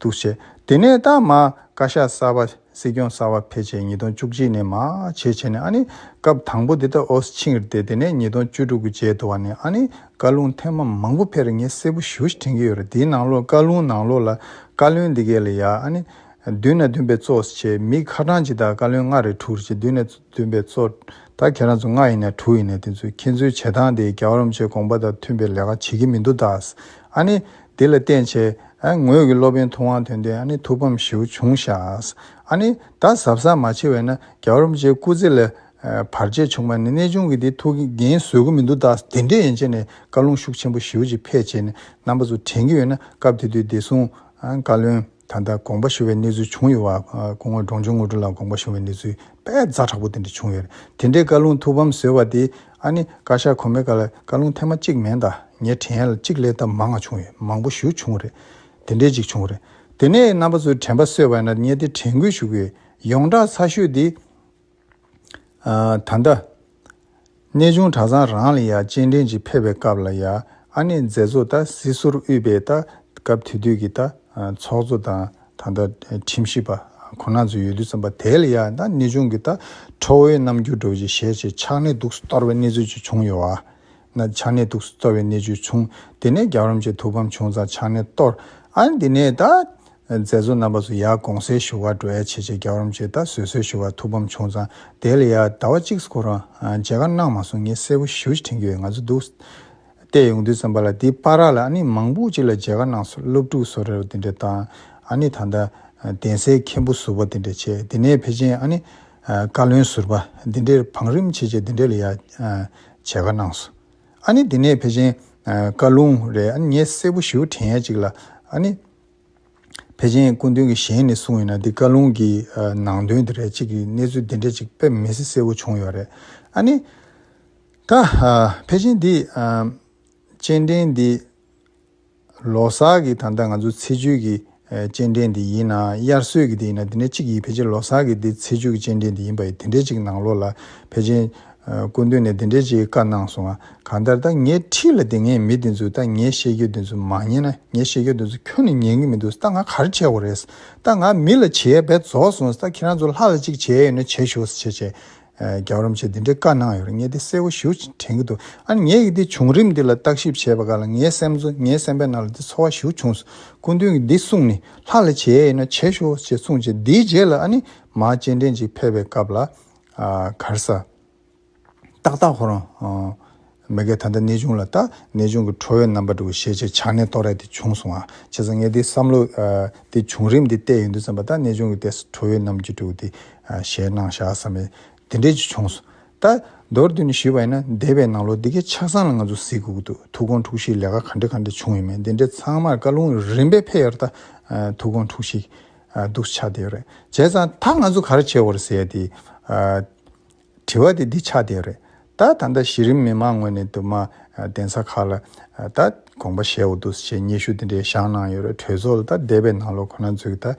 འདུ་བྱེད། དེ་ནས་རྟགས་མ་བཀའ་ཤག་གསར་པ་སྲིད་སྐྱོང་གསར་བ་ཕལ་ཆེར་ཉིས་སྟོང་བཅུ་གཅིག་ནས་མ་ཕྱེད་ཕྱེད་ནས་ཨ་ནི་སྐབས་དང་པོ་འདི་ད་ཨོས་ཆིང་རེད་དེ་ནས་ཉིས་སྟོང་བཅུ་དྲུག་གི་མཇལ་དུ་བ་ནས་ཨ་ནི་བཀའ་ལུང་ཐེངས་མ་མང་པོ་ཕེར་ངས་གསལ་པོ་ཞུ་དྲན་གྱི་ཡོད་རེད་དེའི་ནང་ལོགས་བཀའ་ལུང་ནང་ལོགས་ལ་བཀའ་བློན་འདི་གས་ལ་ཡ་ཨ་ནི་བདུན་ནས་བདུན་པའི་གཙོ་བྱས་མི་ཁ་གྲངས་ཇི་ལྟར་བཀའ་བློན་ལྔ་རེད་དྲུག་རེད་ཅེས་བདུན་ནས་བདུན་པའི་གཙོ་ད་ཁྱེད་རང་ཚོ་ལྔ་ཡིན་ནས་དྲུག་ཡིན་ནས་དེ་ཚོས་ཁྱེད་ཚོའི་བྱེད་སྟངས་དེ་རྒྱ་གར་རམ་ཆོས་དགོངས་པ་དང་མཐུན་པའི་ལས་ཀ་བྱེད་ཀྱི་མི་འདུག་ད་ཨ་ནི་དེ་ལ་བརྟེན་བྱའི། ངོས་ཀྱི་སློབ་དཔོན་ཐུབ་དབང་དོན་ལྡན་ཨ་ནི་ཐུབ་བམ་ཞེའུ་ཆུང་ཤཱས། ཨ་ནི། ད་ཟབ་ས་མ་ཕྱེ་བས་ན་རྒྱ་བོར་རམ་ཅའི་སྐུ་ཚེ་ལས། བར་ཆད་བྱུང་བ་ནི་གནས་ཆུང་གི་དེ་ཐུགས་ཀྱི་རྒྱན་བཟོད་གི་མི་འདུག་ད་དེ་འདྲས་ཡན་ཆད་ནས་བཀའ་ལུང་ཤུགས་ཆེན་པོ་ཞེའུ་ཅིག་ཕེད་བྱས་ནས་རྣམ་པ་ཚོ་དྲན་གྱི་ཡོད་ན་སྐབས་དེ་དུས་བདེ་སྲུང། བཀའ་བློན། ད་ལྟ་དགོངས་པ་ཞུ་བའི་གནས་ཚུལ་བྱུང་ཡོད་པ། སྐུ་ངོ་འབྲོང་ཆུང་དངོས་གྲུབ་ལགས་དགོངས་པ་ཞུ་བའི་གནས་ཚུལ་དཔེ་རྫ་དྲག་པོ་དེ་འདྲ་བྱུང་ཡོད། དེ་འདྲའི་བཀའ་ལུང་ཐུགས་ཕམ་བཟོས་པ་དེ། ཨ་ནི་བཀའ་ཤག་གོ་མེད་ག་ལ་བཀའ་ལུང་ཐེངས་མ་གཅིག་མན་ད་ངས་དྲན་ཡལ་གཅིག་ལས་ད་མ་ང་བྱུང་ཡོད་མང་པོ་ཞུ་བྱུང་རེད། དེ་འདྲའི་གཅིག་བྱུང་རེད། དེ་ནས་རྣམ་པ་ཚོས་དྲན་པ་གསོས་པ་ན་ངས་དེ་དྲན་སྐུལ་ཞུ་གི་ཡོད། ཡོངས་གྲགས་ཚ་ཤོས་དེ། ད་ལྟ། གནས་ཆུང་གྲྭ་ཚང་རང་ལ་ཡང་སྤྱན་འདྲེན་གྱིས་ཕེབས་པའི་སྐབས་ལ་ཡང་ཨ་ནེ་མཛད་གཙོ་དང་སྲིད་ཟུར་དབུས་པའི་ལྟ་སྐབས་དེ་དུས་ཀྱི་ཚོགས་གཙོ་དང་ད་ལྟ་ཁྲིམས་ཞིབ་པ་ཁོ་ན་ཚོ་ཡོད་དུས་ཙམ་པ་དེ་ལ་ཡང་ད་གནས་ཆུང་གི་ལྟ་ཁྲོ་བོའི་རྣམ་འགྱུར་འགྲོ་བཞིན་ཞལ་ཕྱེས་ཕྱག་ནས་དུག་སུ་གཏོར་བའི་གནས་ཚུལ་ཅིག་བྱུང་ཡོད་ན། ཕྱག་ནས་དུག་སུ་གཏོར་བའི་གནས་ཚུལ་བྱུང་དེ་ནས་རྒྱབ་རོམ་གྱི་ཐུགས་ཕམ་བྱུང་ཙང་ཕྱག་ནས་གཏོར་ཨ་འདི་ནས་ད་མཛད་གཙོ་རྣམ་པ་སུ་ཡག་དགོངས་སེལ་ཞུ་བར་འགྲོ་ཡ་ཆེ་ཆེ་རྒྱ་རོམ་ཅེས་ད་གཟོད་གསོལ་ཞུ་བར་ཐུགས་ཕམ་བྱུང་ཙང་དེ་ལ་ཡ་ཟླ་བ་གཅིག་སྐོར་རང་མཇལ་ཁ་གནང་མ་སོང་ངས་གསལ་པོ་ཞུ་ཕྱིར་དྲན་རྒྱུ་ཡོད་ང་ཚོ་འདུག་སྟེ་ཡོང་དུས་ཙམ་པ་ལ་འདི་པ་ར་ལ་ཨ་ནི་མང་པོ་ཅིག་ལ་མཇལ་ཁ་གནང་སོང་སློབ་ཕྲུག་བསོ་རེ་ར་འདི་འདྲ་དང་ཨ་ནི་ད་ལྟ་གདན་སའི་མཁན་པོ་ཟུར་པ་འདི་འདྲ་བྱས་འདི་ནས་ཕེ་ཆེན་ཨ་ནི་བཀའ་བློན་ཟུར་པ་འདི་འདྲེར་བང་རིམ་ཆེ་ཆེ་འདི་འདྲེ་ལ་ཡ་མཇལ་ཁ་གནང་སོང་ཨ་ནི་འདི་ནས་ཕེ་ཆེན་བཀའ་ལུང་རེ་ཨ་ནི་ངས་གསལ་པོ་ཞུ་དྲན་ཡ་ཅིག་ལ་ཨ་ནི། ཕལ་ཆེན་སྐུ་མདུན་གྱི་ཞལ་ནས་གསུངས་ཡོད་ན་འདི་བཀའ་ལུང་གི་ནང་དོན་དེ་རེད་ཅིག་གི་གནས་ཚུལ་འདི་འདྲ་ཅིག་དཔེ་མི་སྲིད་གསལ་བོ་བྱུང་ཡོད་རེད་ཨ་ནི། ད་ཕལ་ཆེན་འདི་སྤྱན་འདྲེན་འདི་ལོ་སར་གྱི་ད་ལྟ་ང་ཚོ་ཚེས་བཅུ་གྱི་སྤྱན་འདྲེན་འདི་ཡིན་ན་དབྱར་སོས་ཀྱི་འདི་ཡིན་ན་དེ་འདྲ་ཅིག་ཡིན་ཕལ་ཆེན་ལོ་སར་གྱི་འདི་ཚེས་བཅུ་གྱི་སྤྱན་འདྲེན་འདི་ཡིན་པ་ཡིན་དེ་འདྲ་ཅིག་ནང་ལོགས་ལ་ཕལ་ཆེན་སྐུ་མདུན་ནས་འདི་འདྲ་ཅིག་བཀའ་གནང་སོང་ང་གང་ལྟར་ད་ངས་ཁྲིད་ལ་དེ་ངས་མི་དེ་ཚོས་ད་ངས་བཤད་རྒྱུ་དེ་ཚོ་མ་ཉན་ན་ངས་བཤད་རྒྱུ་དེ་ཚོ་ཁྱོད་ནས་ཉན་གི་མི་འདུག་ད་ང་གར་ཆས་གོ་རེད་ད་ང་མི་ལ་བྱེད་ཡས་བས་རྫོགས་སོང་ད་ཁྱེད་རང་ཚོ་ལྷག་ལ་ཅིག་བྱེད་ཡས་ཡོད་ན་བྱེད་ཞོག་ཟེར་བྱས་བྱས་རྒྱབ་རོམ་བྱས་དེ་འདྲའི་བཀའ་གནང་ཡོད་རེད་ངས་དེ་གསལ་བོ་ཞུ་དྲན་གི་འདུག་ཨ་ནི་ངས་ཀྱི་དེ་བྱུང་རིམ་འདི་ལ་བརྟག་ཞིབ་བྱས་པ་ག་ལ་ངའི་སེམས་ཚོ་ངའི་སེམས་པའི་ནང་ལ་དེ་འཚོ་བ་ཞུ་བྱུང་སོང་སྐུ་མདུན་གྱི་འདི་གསུངས་ནས་ལྷག་ལ་བྱེད་ཡས་ཡོད་ན་བྱེད་ཞོག་ཅེས་གསུངས་བྱས་དེའི་རྗེས་ལ་ཨ་ནི་མ་སྤྱན་འདྲེན་ཅིག་ཕེབས་པའི་སྐབས་ལ་གར་ས། ཏག་ཏག་ཁོ་རང། མི་གས་ད་ལྟ་གནས་ཆུང་ལ་ལྟ། གནས་ཆུང་གི་ཁྲོ་བའི་རྣམ་པ་འདྲ་བོ་ཤེས་བྱའི་ཆགས་གནས་ལྟོ་ར་དེ་བྱུང་སོང་ཨ། བྱས་ཙང་ངས་འདིའི་བསམ་བློ། འདི་བྱུང་རིམ་འདི་བལྟས་ཡོང་དུས་བསམ་པ་ད་གནས་ཆུང་གི་ལྟས་སུ་ཁྲོ་བའི་རྣམ་འགྱུར་འདྲ་བོ་དེ། ཞལ་ནང་བཞག་བསམ་མེད་དེ་འདྲས་ཅིག་བྱུང་སོང། ད། མདོར་བསྡུས་ནས་ཞུས་པ་ཡིན་ན་འདས་པའི་ནང་ལོ་འདི་གའི་ཆགས་སྡང་ལ་ང་ཚོ་གཟིགས་དགོས་ཀྱི་འདུག་ཐུགས་དགོངས་འཁྲུགས་གཞིའི་ལས་ཀ་ག་འདྲ་ག་འདྲ་བྱུང་ཡོད་མེད་འདི་འདྲས་ཚང་མར་བཀའ་ལུང་རིམ་པས་ཕེབས་ཡོད་ད། ཐུགས་དགོངས་འཁྲུགས་གཞི། སྡུག་ཆགས་དེ་ཡོད་རེད། བྱས་ཙང་ད་ང་ཚོ་ག་རེ་བྱེད་དགོས་རེད་ཟེར་ཡས་དེ། དྲི་བ་དེ་འདི་ཆགས་བསྡད་རེད། ད་ད་ལྟ་གཞི་རིམ་མི་མང་ངོས་ནས་དུ་མ་གདན་ས་ཁག་ལ་ད་དགོངས་པ་བཞེས་འོ་འདུག་ཅེས་སྙན་ཞུ་དེ་འདྲའི་བཞག་གནང་ཡོད་རེད་གྲོས་ཚོགས་ལ་ད་འདས་པའི་ནང་ལོ་ཁོ་ན་ཚོས་ཀྱི་ད་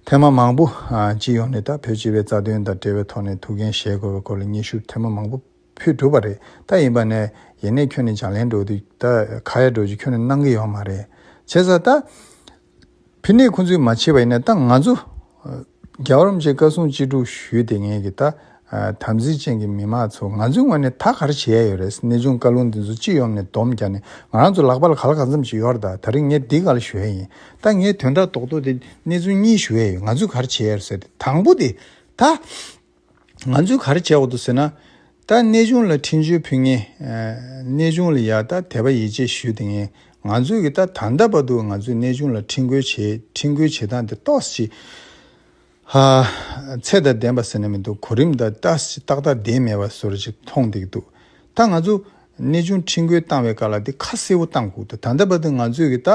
ཐེངས་མ་མང་པོ་སྤྱི་ཡོངས་ནས་ད་བོད་སྤྱི་བའི་རྩ་དོན་དང་འབྲེལ་བའི་ཐོག་ནས་ཐུགས་འགན་བཞེས་དགོས་པའི་སྐོར་ལ་སྙན་ཞུ་ཐེངས་མ་མང་པོ་ཕུལ་གྲུབ་པ་རེད་ད་ཡིན་པ་ནས་ཡེ་ནས་ཁྱོད་ནས་ལྗགས་ལན་འགྲོ་དུས་ད་ཁ་ཡ་འགྲོ་རྒྱུ་ཁྱོད་ནས་གནང་གི་ཡོད་མ་རེད་བྱས་ཙང་ད། ཕི་ནས་ཁོང་ཚོའི་མ་ཕྱི་བ་ཡིན་ན་ད་ང་ཚོ། རྒྱ་གར་རམ་ཅེས་བཀའ་གསུང་ཅི་དྲུག་ཞུས་ཏེ་ངེད་ཀྱི་ད། དམ་ཚིག་ཅན་གྱི་མི་མ་ཚོ་ང་ཚོའི་ངོས་ནས་ད་ག་རེ་བྱེད་ཡ་ཡོད་རེད་ཟེར་གནས་ཆུང་བཀའ་ལུང་འདི་ཚོ་སྤྱི་ཡོངས་ནས་སྡོམ་བརྒྱག་ནས་ང་རང་ཚོ་ལག་པ་ལ་ག་ལ་ག་ཚོམ་ཅིག་ཡོད་ར་ད་ད་རིང་ངས་འདི་ག་ལ་ཞུ་ཡ་ཡིན་ད་ངས་དོན་དག་རྡོག་རྡོག་དེ་གནས་ཆུང་གཉིས་ཞུ་ཡ་ཡོད་ང་ཚོས་ག་རེ་བྱེད་ཡ་རེད་ཟེར་ཏེ་དང་པོ་དེ་ད། ང་ཚོས་ག་རེ་བྱས་འོག་ཏུ་ཟེར་ན། ད་གནས་ཆུང་ལ་འཕྲིན་བཅོལ་ཕུལ་ངེས། གནས་ཆུང་ལ་ཡང་ད་དད་པ་ཡིད་ཆེས་ཞུས་ཏེ་ངེས། ང་ཚོས་ཀྱི་ད་ད་ལྟ་བར་དུ་ང་ཚོས་གནས་ཆུང་ལ་འཕྲིན་བཀོལ་བྱས་འཕྲིན་བཀོལ་བྱེད་སྟངས་དེ་རྟོགས་ཅི། ཧ། ཚད་དང་ལྡན་པ་ཟེར་ན་མི་འདུག་གོ་རིམ་དང་ཏག་ཏག་ལྡན་མེད་པ་སོར་ཅིག་མཐོང་སྟེ་འདུག་ད་ང་ཚོ་གནས་ཆུང་ཁྲིན་ཀོས་བཏང་བའི་བཀའ་ལ་དེ་ཁ་གསལ་བོ་བཏང་ཁུག་ད་ད་བར་དུ་ང་ཚོས་གི་ད་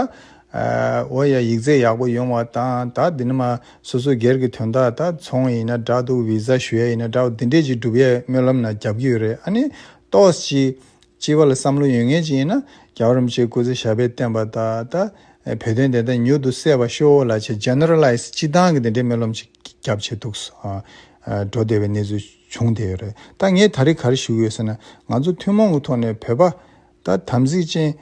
འོ་ཡ་ཡིག་རྩལ་ཡག་པོ་ཡོང་བ་དང་ད་དེ་ནི་མ་སོ་སོ་སྒེར་གི་དོན་དག་ད་ཚོང་ཡིན་ན་འདྲ་འདུག་བི་ཟ་ཞུ་ཡ་ཡིན་ན་འདྲ་འོ་དེ་འདྲས་ཅིག་སྒྲུབ་ཡའི་སྨོན་ལམ་ན་རྒྱབ་ཀྱི་ཡོད་རེད་ཨ་ནི་ཏོགས་ཅིག་སྤྱི་བ་ལ་བསམ་བློ་ཡོད་ངེས་ཅིག་ཡིན་ན་རྒྱ་བ་རིན་པོ་ཆེ་སྐུ་ཚེ་ཞབས་པད་བརྟན་པ་ད་ད་བོད་དོན་དེ་ད་མྱུར་དུ་གསལ་བ་ཤོ་ལ་ཆེ Generalize སྤྱི་བཏང་གི་དེ་འདྲས་སྨོན་ལམ་ཅིག་རྒྱབ་བྱས་འདུག་འགྲོ་བདེ་བའི་གནས་ཚུལ། བྱུང་དེ་རེད་ད་ངས་ད་རེ་ག་རེ་ཞུ་ཡོད་ཟེར་ན་ང་ཚོ་ཐུན་མོང་གི་ཐོག་ནས་བོད་པ་ད་དམ་ཚིག་ཅན།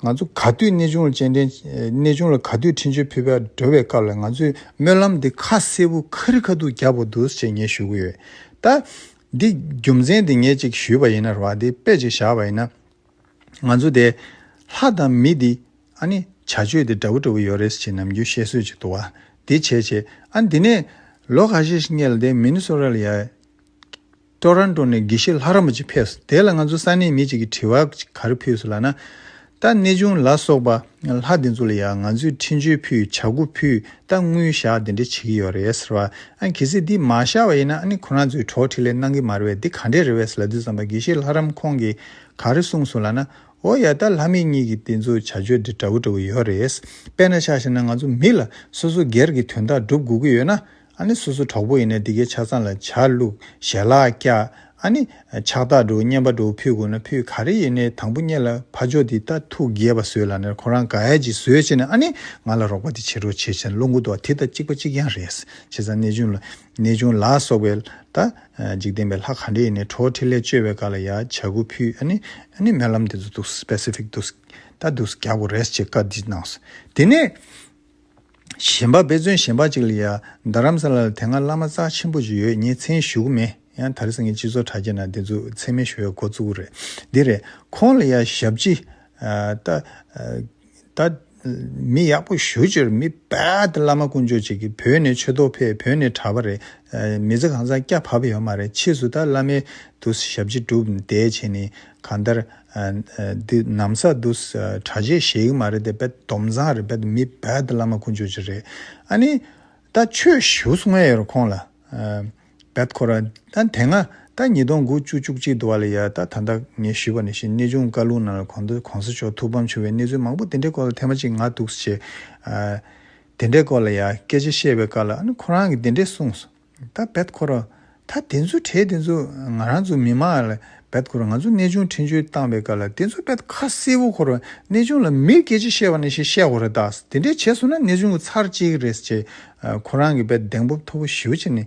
ང་ཚོ་ག་དུས་གནས་ཆུང་ལ་སྤྱན་འདྲེན་གནས་ཆུང་ལ་ག་དུས་འཕྲིན་བཅོལ་ཕུལ་བར་འགྲོ་བའི་སྐབས་ལ་ང་ཚོས་སྨོན་ལམ་འདི་ཁ་གསལ་བོ་ཁ་རི་ཁ་ཐུག་རྒྱག་པོ་འདུག་ཅེས་ངས་ཞུ་གི་ཡོད་ད། འདི་རྒྱུ་མཚན་དེ་ངས་ཅིག་ཞུས་པ་ཡིན་ན་རེད་བ་འདི་དཔེ་ཅིག་བཞག་པ་ཡིན་ན། ང་ཚོ་དེ། ལྷ་དང་མི་འདི། ཨ་ནི། བྱ་སྤྱོད་དེ་འདྲ་བོ་འདྲ་བོ་ཡོད་རེད་ཅེས་ནམ་རྒྱུན་བཤད་སྲོལ་ཅིག་འདུག་ཨ། དེ་བྱས་བྱས། ཨ་དེ་ནས། ལོ་ག་ཤེད་ཤིག་སྔས་ལ་དེ་མིན་སོ་ར་ལི་ཡ། Toronto། ནས་དགེ་བཤེས་ལྷ་རམས་པ་ཅིག་ཕེབས་སོ་དེ་ལ་ང་ཚོ་ས་གནས་མི་ཅིག་གིས་དྲི་བ་ག་རེ་ཕུལ་སོ་ལ་ན། ད་གནས་ཆུང་ལ་སོགས་པ་ལྷ་དེ་ཚོ་ལ་ཡང་ང་ཚོས་འཕྲིན་བཅོལ་ཕུལ་བྱ་སྒོ་ཕུལ་ད་དངུལ་བཞག་དེ་འདྲ་བྱེད་ཀྱི་ཡོད་རེད་ཟེར་བ། ཨ་གལ་སྲིད་འདི་མ་བཞག་པ་ཡིན་ན་ཨ་ནི་ཁོ་རང་ཚོའི་གྲོགས་ཁྲིད་ལས་གནང་གི་མ་རེད་དེ་ག་འདྲས་རེད་བས་ལ་དུས་ཙམ་པ་དགེ་བཤེས་ལྷ་རམས་ཁོང་གིས། ག་རེ་གསུངས་སོང་ལ་ན། ཨོ་ཡ་ད་ལྷ་མི་གཉིས་ཀྱི་དེ་ཚོ་བྱ་སྤྱོད་འདི་འདྲ་བོ་འདྲ་བོ་ཡོད་རེད། དཔེར་ན་ཆ་ཤས་ན་ང་ཚོ་མི་ལ་སོ་སོ་སྒེར་གྱི་དོན་དག་སྒྲུབ་དགོས་ཀྱི་ཡོད་ན། ཨ་ནི་སོ་སོ་གྲོགས་པོ་ཡིན་ན་འདི་གའི་ཆ་ཚང་ལ་ཆ་བླུག་ཞལ་ལག་བཀྱག་ཨ་ནི། ཕྱག་རྟགས་འགྲོ་བསྙེན་པ་འགྲོ་བོ་ཕུལ་དགོས་ན་ཕུལ་ག་རེ་ཡིན་ནའི་དང་པོ་གཉེར་ལ་ཕ་ཇོ་འདི་ལྟ་ཐུགས་དགྱེས་པ་བཟོས་ལ་ནས་ཁོ་རང་ག་ཡ་ཅིག་བཟོས་བྱས་ནས་ཨ་ནི་ང་ལ་རོགས་པ་འདི་བྱེད་རོགས་བྱེད་བྱས་ན་བློ་འགུ་དོ་བ་དེ་ལྟ་གཅིག་པ་གཅིག་རྐྱང་རེད། བྱས་ཙང་གནས་ཆུང་ལ། གནས་ཆུང་ལ་སོགས་པའི་ལྟ། འཇིག་རྟེན་པའི་ལྷ་གང་དྲི་ཡི་ནི་གྲོགས་ཁྲིད་ལས་བཅོལ་བའི་བཀའ་ལ་ཡང་བྱ་ཁུ་ཕུད་ཨ་ནི་ཨ་ནི་སྨོན་ལམ་དེ་ཚོ་འདུག specific འདུག་ད་འདུག་རྒྱག་པོ་རེད་ཅེས་བཀའ་འདི་གནང་སོང་དེ་ནས། གཞན་པ་དཔེ་མཚོན་གཞན་པ་ཅིག་ལ་ཡང་རྡ་རམ་ས་ལ་ལ་དེ་སྔ་བླ་མ་རྩ་ཆེན་པོ་ཅིག་ཡོད་ངས་མཚན་ཞུ་གི་མེད་ཡང་དར་སེང་གེ་སྤྱི་ཚོགས་དྲ་རྒྱ་ནང་དེ་ཚོ་མཚན་མེད་ཞུ་བའི་འགོ་བཙུགས་གི་རེད་འདི་རེད་ཁོང་ལ་ཡང་ཞབས་ཕྱི་ལྟ། ད་མི་ཡག་པོ་ཞུ་ཅོར་མི་བལྟ་བླ་མ་དཀོན་མཆོག་ཅིག་གིས་བོད་ནས་ཆོས་ཐོག་ཕེབས་བོད་ནས་གྲྭ་པ་རེད་མི་ཚེ་གང་བཟང་སྐྱ་བབས་ཡོད་མ་རེད་ཕྱིས་སུ་ད་བླ་མའི་དུ་ཞབས་ཕྱི་སྒྲུབ་བསྡད་བྱས་ནས་གང་ལྟར་འདི་ནམ་ས་དུ་གྲྭ་ཆས་བཞེས་གི་མ་རེད་དེ་བལྟ་སྡོམ་བཟང་རེད་བལྟ་མི་བལྟ་བླ་མ་དཀོན་མཆོག་ཅིག་རེད་ཨ་ནི་ད་ཆོས་ཞུ་སོང་ངས་ཡོད་རེད་ཁོང་ལ། བབས་ཁོ་ར། ད་དེ་སྔ་ཟླ་ཉིས་སྟོང་དགུ་བཅུ་བཅུ་གཅིག་དུ་བ་ལ་ཡར་ད་ད་ལྟ་ངས་ཞུས་པ་ནས་བཞིན་གནས་ཆུང་བཀའ་ལུང་ནང་ལ་གོང་དུ་གོང་ས་མཆོག་ཐུགས་ཕམ་བྱུང་བའི་གནས་ཚུལ་མང་པོ་དེ་འདྲའི་སྐོར་ལ་ཐེངས་མ་གཅིག་ང་འདུག་ཟེར། དེ་འདྲའི་སྐོར་ལ་ཡང་སྐད་ཆ་བཤད་པའི་བཀའ་ལ་ཁོ་རང་གིས་དེ་འདྲས་གསུངས། ད་བབས་ཁོ་ར། ད་དེ་ཚོའི་གྲས་དེ་ཚོ་ང་རང་ཚོ་མི་མང་ལ་བབས་ཁོ་ར་ང་ཚོ་གནས་ཆུང་འཕྲིན་བཅོལ་བཏང་བའི་བཀའ་ལ་དེ་ཚོ་བབས་ཁ་གསལ་བོ་ཁོ་ར་གནས་ཆུང་ལ་མིར་སྐད་ཆ་བཤད་པ་ནས་བཞིན་བཤད་ཁོ་ར་དྭགས་དེ་འདྲས་བྱས་སོང་ན་གནས་ཆུང་གི་ཚར་གཅིག་རེད་ཅེས་ཁོ་རང་གིས་པད་གདེང་སྤོབས་མཐོ་བོ་ཞེའུ་ཅིག་ནས་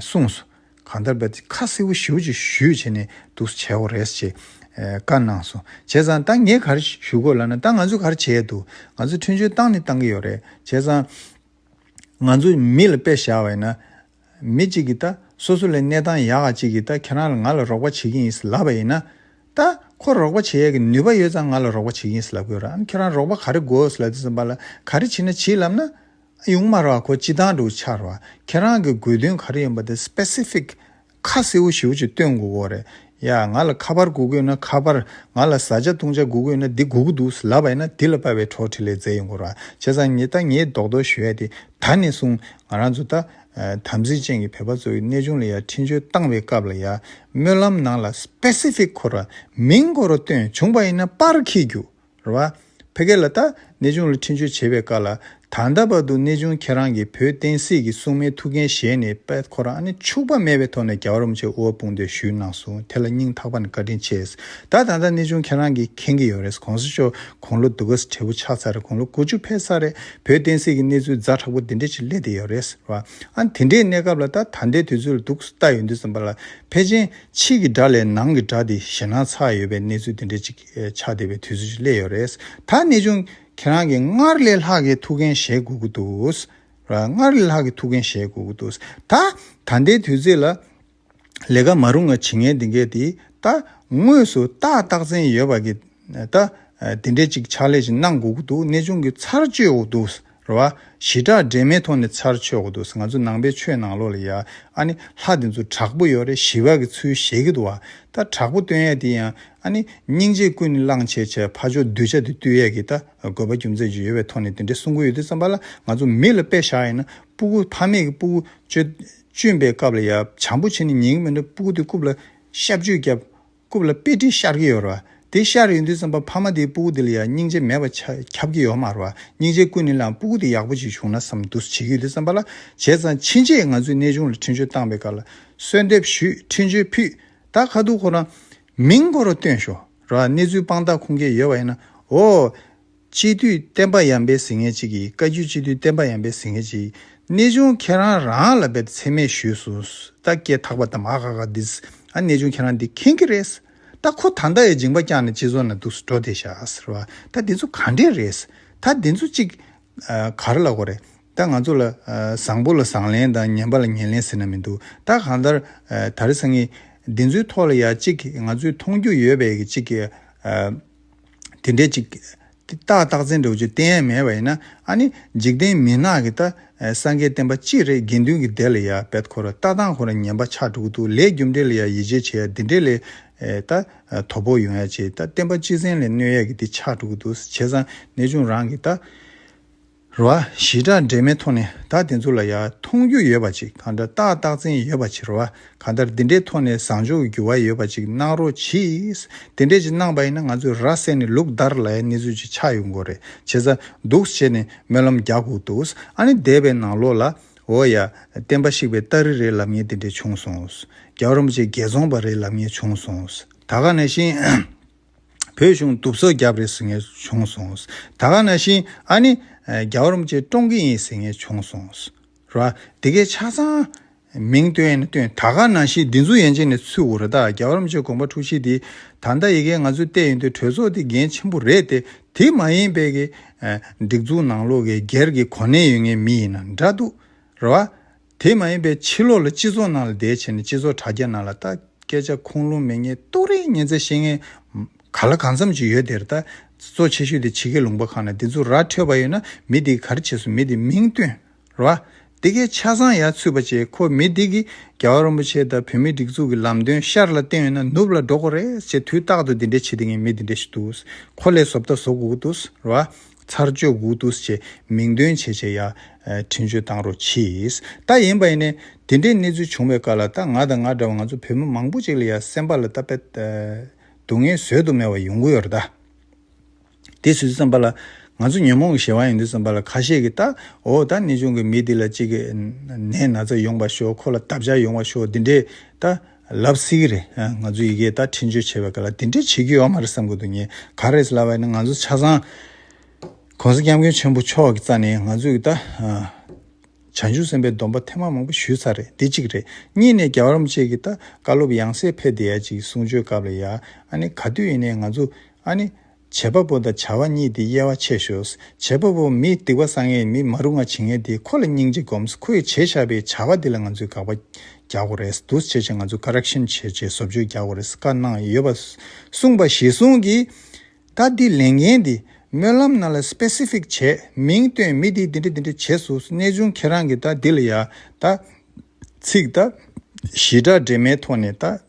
གསུངས་སོ། གང་ལྟར་པད་ཁ་སེར་བོ་ཞེའུ་ཅིག་བཞུད་བྱས་ནས་འདུག་སོ་བྱའོ་རེས་བྱེད། བཀའ་གནང་སོ། བྱས་ཙང་ད་ངས་གར་བཞུད་དགོས་ལ་ན་ད་ང་ཚོས་གར་བྱས་འདུག་ང་ཚོས་ཁྲུན་ཆུང་བཏང་ནི་བཏང་གི་ཡོད་རེད་བྱས་ཙང། ང་ཚོས་མི་ལ་པད་བཞག་བས་ན། མི་གཅིག་གིས་ད་སོ་སོ་ལའི་གནས་སྟངས་ཡག་ག་ཅིག་གིས་ད་ཁྱེད་རང་ལ་ང་ལ་རོགས་པ་བྱེད་ཀྱིན་ཡིན་སི་ལབ་པ་ཡིན་ན། ད་ཁོ་རོགས་པ་བྱེད་ཡས་ཀྱི་ནུས་པ་ཡོད་ཙང་ང་ལ་རོགས་པ་བྱེད་ཀྱིན་ཡིན་སི་ལབ་གི་ཡོད་ར་ཨ་ཁྱེད་རང་རོགས་པ་ག་རེ་དགོས་སི་ལ་དེ་ཙམ་པ་ལ་ག་རེ་བྱེད་ན་བྱེད་ལབ་ན། ཡུང་དམར་བ་ཁོ་སྤྱི་བཏང་འགྲོ་འཆར་བ་ཁྱེད་རང་གི་དགོས་དོན་ག་རེ་ཡིན་པ་དེ Specific ཁ་གསལ་བོ་ཞིའོ་ཅིག་སྟོན་དགོས་གོ་རེད་ཡ་ང་ལ་ཁ་པར་གུག་དགོས་ན་ཁ་པར་ང་ལ་བཟའ་བཅའ་བཏུང་བཅའ་གུག་དགོས་ན་དེ་གུག་གི་འདུག་ལབ་པ་ཡིན་ན་དེ་ལ་དཔའ་བའི་གྲོགས་ཁྲི་ལས་མཛད་ཡིན་དགོས་ར་བྱས་ཙང་ངེད་ད་ངེད་རྡོག་རྡོག་ཞུ་ཡ་དེ་ད་ནས་བཟུང་ང་རང་ཚོ་ད་དམ་ཚིག་ཅན་གྱི་བོད་པ་ཚོ་ཡི་གནས་ཆུང་ལ་ཡ་འཕྲིན་བཅོལ་བཏང་བའི་སྐབས་ལ་ཡ་སྨོན་ལམ་ནང་ལ Specific ཁོ་ར་མིང་ཁོ་ར་སྟོན་བྱུང་པ་ཡིན་ན་པར་ཁེས་རྒྱུགས། རེད་བ། ཕལ་སྐད་ལ་ལྟ། གནས་ཆུང་ལ་འཕྲིན་བཅོལ་བྱེད་པའི་སྐབས་ལ། ད་ལྟ་བར་དུ་གནས་ཆུང་ཁྱེད་རང་གིས་བོད་བསྟན་སྲིད་ཀྱི་སྲུང་མའི་ཐུགས་འགན་བཞེས་ནས་པད་ཁོ་རང་ནི་འཕྱུགས་པ་མེད་པའི་ཐོག་ནས་རྒྱ་གར་བུ་ཆེ་དབུ་བ་དཔུང་སྡེར་ཞུས་གནང་སོང་དེ་ལ་སྙིང་ཐག་པ་ནས་བཀའ་དྲིན་ཆེ། ད་ད་ལྟ་གནས་ཆུང་ཁྱེད་རང་གིས་མཁྱེན་གྱི་ཡོད་རེད་གོང་ས་མཆོག་དགུང་ལོ་སྡུག་ག་ས་བྲེལ་པོ་ཆགས་ཚར་རེད་དགུང་ལོ་དགུ་བཅུ་ཕེབས་ཚར་རེད་བོད་བསྟན་སྲིད་ཀྱི་གནས་ཚུལ་རྫ་དྲག་པོ་འདི་འདྲའི་ཆེད་སླེབས་བསྡད་ཡོད་རེད་བ། ཨང་དེ་འདྲའི་གནས་སྐབས་ལ་ལྟ་ད་ལྟའི་དུས་ཚོད་ལ་སྡུག་ས་ལྟ་ཡོད་འདུག་བསམ་པ་ལ་ཕལ་ཆེན་ཕྱི་གི་དགྲ་ལས་ནང་གི་དགྲ་དེ་ཞེ་སྣང་ཚ་ཡོད་པའི་གནས་ཚུལ་འདི་འདྲའི་ཅིག་ཕྱག་འདེབས་པའི་དུས་ཚོད་ཅིག་སླེབས་ཡོད་རེད། ད་གནས་ཆུང་ཁྱེད་རང་གིས་སྔར་ལས་ལྷག་གི་ཐུགས་འགན་བཞེས་དགོས་ཀྱི་འདུག་སྔར་ལས་ལྷག་གི་ཐུགས་འགན་བཞེས་དགོས་ཀྱི་འདུག་ད་ད་ལྟའི་དུས་ཚོད་ལ། ལས་ཀ་མ་རུང་བ་བྱེད་མཁན་འདི་འགས་དེ་ད་དངོས་སུ་ཏག་ཏག་བཙན་ཡོད་པ་གིས་ད་དེ་འདྲས་ཅིག་ཕྱག་ལས་ཅིག་གནང་དགོས་ཀྱི་འདུག་གནས་ཆུང་གིས་ཚར་གཅོད་འོག་འདུག་རེད་བ། ཞི་དྲག་འདྲེས་མའི་ཐོག་ནས་ཚར་ཆོད་གི་འདུག་ང་ཚོ་ནང་པའི་ཆོས་ནང་ལོག་ལ་ཡ་ཨ་ནི་ལྷ་དེ་ཚོ་དྲག་པོ་ཡོད་རེད་ཞི་བ་གི་ཚུལ་བཞེས་གི་འདུག་བ། ད་དྲག་པོ་སྟོན་ཡས་དེ་ཡ་ཨ་ནི་སྙིང་རྗེ་ཀུན་ནས་བླངས་བྱས་བྱས་ཕ་ཕྱོགས་གདུལ་བྱ་དེ་བཏུལ་ཡས་གི་ད་དགོས་པ་རྒྱུ་མཚན་ཅིག་ཡོད་བའི་ཐོག་ནས་དེ་འདྲའི་གསུང་གི་ཡོད་དུས་བསམ་པ་ལ་ང་ཚོ་མི་ལ་དཔེ་བཞག་ཡིན་ན་སྤུ་གུ་ཕ་མེས་ཀི་སྤུ་གུ་གཅུན་པའི་སྐབས་ལ་ཡ་བྱམས་པོ་བྱེད་ནས་ཉན་གི་མི་འདུག་སྤུ་གུ་དེ་རྐུབ་ལ་ཤབ་ཆུས་བརྒྱབ། རྐུབ་ལ་དཔེ་དཀྲིས་ཤར་གྱི་ཡོད་རེད་བ། དེ་ཤར་ཡོང་དུས་བསམ་པ་ཕ་མ་དེའི་སྤུ་གུ་དེ་ལ་ཡང་སྙིང་རྗེ་མེད་པ་ཁྱབ་ཀྱི་ཡོད་མ་རེད་བ། སྙིང་རྗེ་ཀུན་ནི་བླངས་སྤུ་གུ་དེ་ཡག་པོ་ཅིག་བྱུང་ན་བསམ་འདུ་བྱེད་ཀྱི་ཡོད་དུས་བསམ་པ་ལ་བྱས་ཙང་ཕྱིན་ཆད་ང་ཚོས་གནས་ཆུང་ལ་འཕྲིན་བཅོལ་བཏང་པའི་སྐབས་ལ་གསོལ་འདེབས་ཞུས་འཕྲིན་བཅོལ་ཕུད་ད་ག་དུས་ཁོ་རང་མིང་ཁོ་རང་སྟོན་ཤོག་རེད་བ་གནས་ཚུལ་དཔང་རྟགས་ཁུངས་སྐྱེལ་ཡོད་བ་ཡིན་ན་འོ། སྤྱི་འཐུས་བསྟན་པ་ཡམ་པའི་ཟིན་ངེ་ཅིག་གིས་བཀའ་བརྒྱུད་སྤྱི་འཐུས་བསྟན་པ་ཡམ་པའི་ཟིན་ངེ་ཅིག་གནས་ཆུང་ཁྱེད་རང་རང་ལ་འབེབས་ཚེ་མེད་ཞུས་སོང་ད་སྐད་ཐག་པ་དམ་ཨ་ཧ་ཧ་འདིས་ཨ་གནས་ཆུང་ཁྱེད་རང་འདི་མཁྱེན་གི་རེད་ད་ཁོ་ད་ཟླ་ཡི་སྦྱིང་པ་བསྐྱངས་ནས་སྤྱི་ཚོགས་ནང་འདུག་སུ་འགྲོ་དེ་ཤ་ཟེར་བ་ད་འདི་ཚོ་ག་འདྲས་རེད་ད་འདི་ཚོ་གཅིག་གར་ལ་གོ་རེད་ད་ང་ཚོ་ལ་བཟང་པོ་ལ་བཟང་ལན་དང་ངན་པ་ལ་ངན་ལན་ཟེར་ན་མི་འདུག་ད་གང་ལྟར་ད་རེས་ངས་འདི་ཚོའི་ཐོག་ལ་ཡང་གཅིག་ང་ཚོས་མཐོང་རྒྱུ་ཡོད་པའི་གཅིག་དེ་འདྲའི་ཅིག། ཏག་ཏག་བཙན་བྲོད་ཀྱི་གཏན་ཡན་མེད་པ་ཡིན་ན་ཨ་ནི་འཇིག་རྟེན་མི་ནག་གི་ད་སངས་རྒྱས་བསྟན་པ་ཅི་རེད་དགེ་འདུན་གྱི་སྡེ་ལ་ཡ་བེད་ཁོ་ར་ལྟ་སྟངས་ཁོ་ར་ཉན་པ་ཆགས་འགྲོ་གི་འདུག་ལས་རྒྱུ་འབྲས་ལ་ཡ་ཡིད་ཆེས་བྱེད་ཡ་འདི་འདྲས་ལས་ད་དོ་པོ་ཡོང་ཡ་ཅིག་ད་བསྟན་པ་སྤྱི་བཙན་ལས་གནོད་ཡ་གི་འདི་ཆགས་འགྲོ་གི་འདུག་བྱས་ཙང་གནས་ཆུང་རང་གི་ད། ར་བ་ཞི་དྲག་འདྲེས་མའི་ཐོག་ནས་ད་དེ་ཚོ་ལ་ཡ་མཐོང་རྒྱུ་ཡོད་པ་ཅིག་གང་འདྲ་ཏག་ཏག་བཙན་ཡོད་པ་བྱེད་ར་བ་གང་ལྟར་འདི་འདྲའི་ཐོག་ནས་བཟང་ཕྱོགས་འགྱུར་བ་ཡོད་པ་ཅིག་གནང་རོགས་གྱིས། དེ་འདྲས་ཅིག་གནང་བ་ཡིན་ན་ང་ཚོས་ར་བསད་ནས་ལུག་བདར་ལ་ཡ་གནས་ཚུལ་ཅིག་ཆགས་ཡོད་མགོ་རེད་བྱས་ས་འདུག་བྱས་ནས་སྨོན་ལམ་རྒྱག་གོ་འདུག་ཨ་ནི་འདས་པའི་ནང་ལོག་ལ་འོ་ཡ་བསྟན་པ་ཞིག་པའི་སྟ་རི་རེད་ལབ་ངེས་དེ་འདྲས་བྱུང་སོང་རྒྱ་རོམ་ཅེ་རྒྱལ་རྫོང་པ་རེད་ལབ་ངེས་བྱུང་སོང་ད་ག་ནས་ཤེས། བོད་གཞུང་དུབ་སོ་རྒྱབ་རེད་ཟེར་ངེས་བྱུང་སོང། ད་ག་ན་བཞིན་ཨ་ནི་རྒྱ་བོར་མ་ཅིག་བཀྲོངས་གི་ཡིན་ཟེར་ངེས་བྱུང་སོང། ར་བ། དེ་གའི་ཆ་ཚང་མིང་སྟོན་ཡིན་ན་སྟོན་ད་ག་ན་བཞིན་འདི་ཚོ་ཡན་ཆད་ནས་ཚུད་འོ་ར་ད་རྒྱ་བོར་མ་ཅིག་དགོངས་པ་འཁྲུག་ཆེ་དེ། ད་ལྟ་ཡི་གེ་ང་ཚོས་བལྟས་ཡོང་དུས་གྲོས་ཚོགས་དེ་འགན་ཆེན་པོ་རེད་དེ་དེ་མ་ཡིན་པའི་གི། སྒྲིག་འཛུགས་ནང་ལོག་གི་སྒེར་གི་གོ་གནས་ཡོད་ངེས་མི་ཡིན་ན་འདྲ་འདུག་ར་བ། དེ་མ་ཡིན་པའི་ཕྱིར་ལོག་ལ་སྤྱི་ཚོགས་ནང་ལ་བསྡད་བྱས་ནས་སྤྱི་ཚོགས་དྲ་རྒྱ་ནང་ལ་ལྟ། སྐད་ཆ་ཁུངས་ལུང་མི་ངེས་རྟོག་རེས་མཉན་ཚད་ཤེས་མཁན། ག་ལ་གང་འཚམ་ཅིག་ཡོད་དེར་ལྟ། གཙོ་ཆེ་ཤོས་དེ་ཕྱི་རྒྱལ་ལུང་པ་ཁག་ན་དེ་ཚོ་ར་འཕྲོད་པ་ཡོད་ན་མི་དེའི་གར་བྱེད་སུ་མི་དེ་མིང་བཏོན། ར། དེ་གའི་ཆ་ཚང་ཡར་ཚུད་པ་བྱས་ཁོ་མི་དེ་གིས་རྒྱ་བ་རོན་པོ་ཆེ་དང་བོད་མིའི་སྒྲིག་འཛུགས་ཀྱི་ལམ་སྟོན་ཤར་ལ་བསྟན་ཡོད་ན་ནུབ་ལ་འགྲོ་དགོས་རེད་ཅེས་དུས་རྟག་ཏུ་དེ་འདྲའི་བྱེད་དེ་ངས་མི་དེ་འདྲའི་ཞིག་འདུག་ཁོ་ལས་བཟོ་བལྟ་བཟོ་དགོས་ཀྱི་འདུག་ར། ཚར་གཅོད་འུ་ཐུགས་བྱས་མིང་འདོན་བྱས་བྱས་ཡ། དྲིན་གཅོད་བཏང་རོགས་གྱིས། ད་ཡིན་པ་ཡིན་ནས། དེ་འདྲའི་གནས་ཚུལ་བྱུང་བའི་བཀའ་ལ་ད་ང་དང་ང་འདྲ་བ་ང་ཚོ་བོད་མི་མང་པོ་ཅིག་ལ་ཡ་སེམས་པ་ལ་ད་དཔེ། སྡུག་བསྔལ་བཟོད་དུ་མེད་བ་ཡོང་གི་ཡོད་རེད་ད། དེ་སུས་བརྩམས་པ་ལ། ང་ཚོ་ཉོན་མོངས་གི་བྱ་བ་ཡིན་དུས་བརྩམས་པ་ལ་ཁ་ཤས་ཀྱིས་ད། འོ་ད་ནི་ཆུང་གི་མི་འདི་ལ་ཅིག། ནད་ན་ཚ་ཡོང་བ་ཤོག་ཁོ་ལ་འདབ་ཆགས་ཡོང་བ་ཤོག་འདི་འདྲའི་ད། ལབ་སིག་རེད། ང་ཚོས་ཡི་གེ་དག་འཕྲིན་བཅོལ་བྱེད་པའི་སྐབས་ལ་དེ་འདྲས་བྱེད་རྒྱུ་ཡོད་མ་རེད་བསམ་དགོས་འདུག་ངས་ག་རེ་ལབ་བ་ནི་ང་ཚོ་ཆ་ཚང ྋགོང་ས ྋསྐྱབས་མགོན་ཆེན་པོ་མཆོག་གི་རྩ་ནས་ང་ཚོས་ཀྱི་དག་བྱང་ཆུབ་སེམས་དཔའི་སྡོམ་པ་ཐེངས་མ་མང་པོ་ཞུས་ཚར་རེད་འདི་གཅིག་རེད། གཉིས་ནས་རྒྱ་གར་མོ་བཅས་ཀྱི་དག་བཀའ་སློབ་ཡང་སེ་ཕེ་དེ་ཡ་གཅིག་གསུང་ཆོས་སྐབས་ལ་ཡ་ཨ་ནི་ག་དུས་ཡིན་ནའི་ང་ཚོ་ཨ་ནི། བྱེད་པ་པོ་དང་བྱ་བ་གཉིས་དེ་དབྱེ་བ་ཕྱེས་ཤོག་བྱེད་པ་པོ་མི་སྡིག་པ་བསགས་ངེས་མི་མ་རུ་ང་བྱེད་ངེས་དེ་ཁོ་ལ་སྙིང་རྗེ་སྒོམས་ཁོ་ཡི་བྱས་བཞག་པའི་བྱ་བ་དེ་ལ་ང་ཚོས་དགག་པ་རྒྱག་གོ་རེས་འདུག་བྱས་བྱས་ང་ཚོས Correction བྱས་བྱས་བཟོ་བཅོས་རྒྱག་གོ་རེས་བཀའ་གནང་ཡོད་པ་གསུངས་པ་གཞི་བཟུང་གིས་བཀའ་འདི་ལས་འགན་འདི་སྨོན་ལམ་རྣམས་ལ Specific བྱས་མིང་བཏོན་མི་དེ་འདི་འདྲ་འདི་འདྲ་བྱས་སུ་གནས་ཆུང་ཁྱེད་རང་གིས་ད་འདི་ལ་ཡ་ད་ཚིག་ད་གཞི་སྒྲ་འདྲེས་མའི་ཐོག་ནས་ད།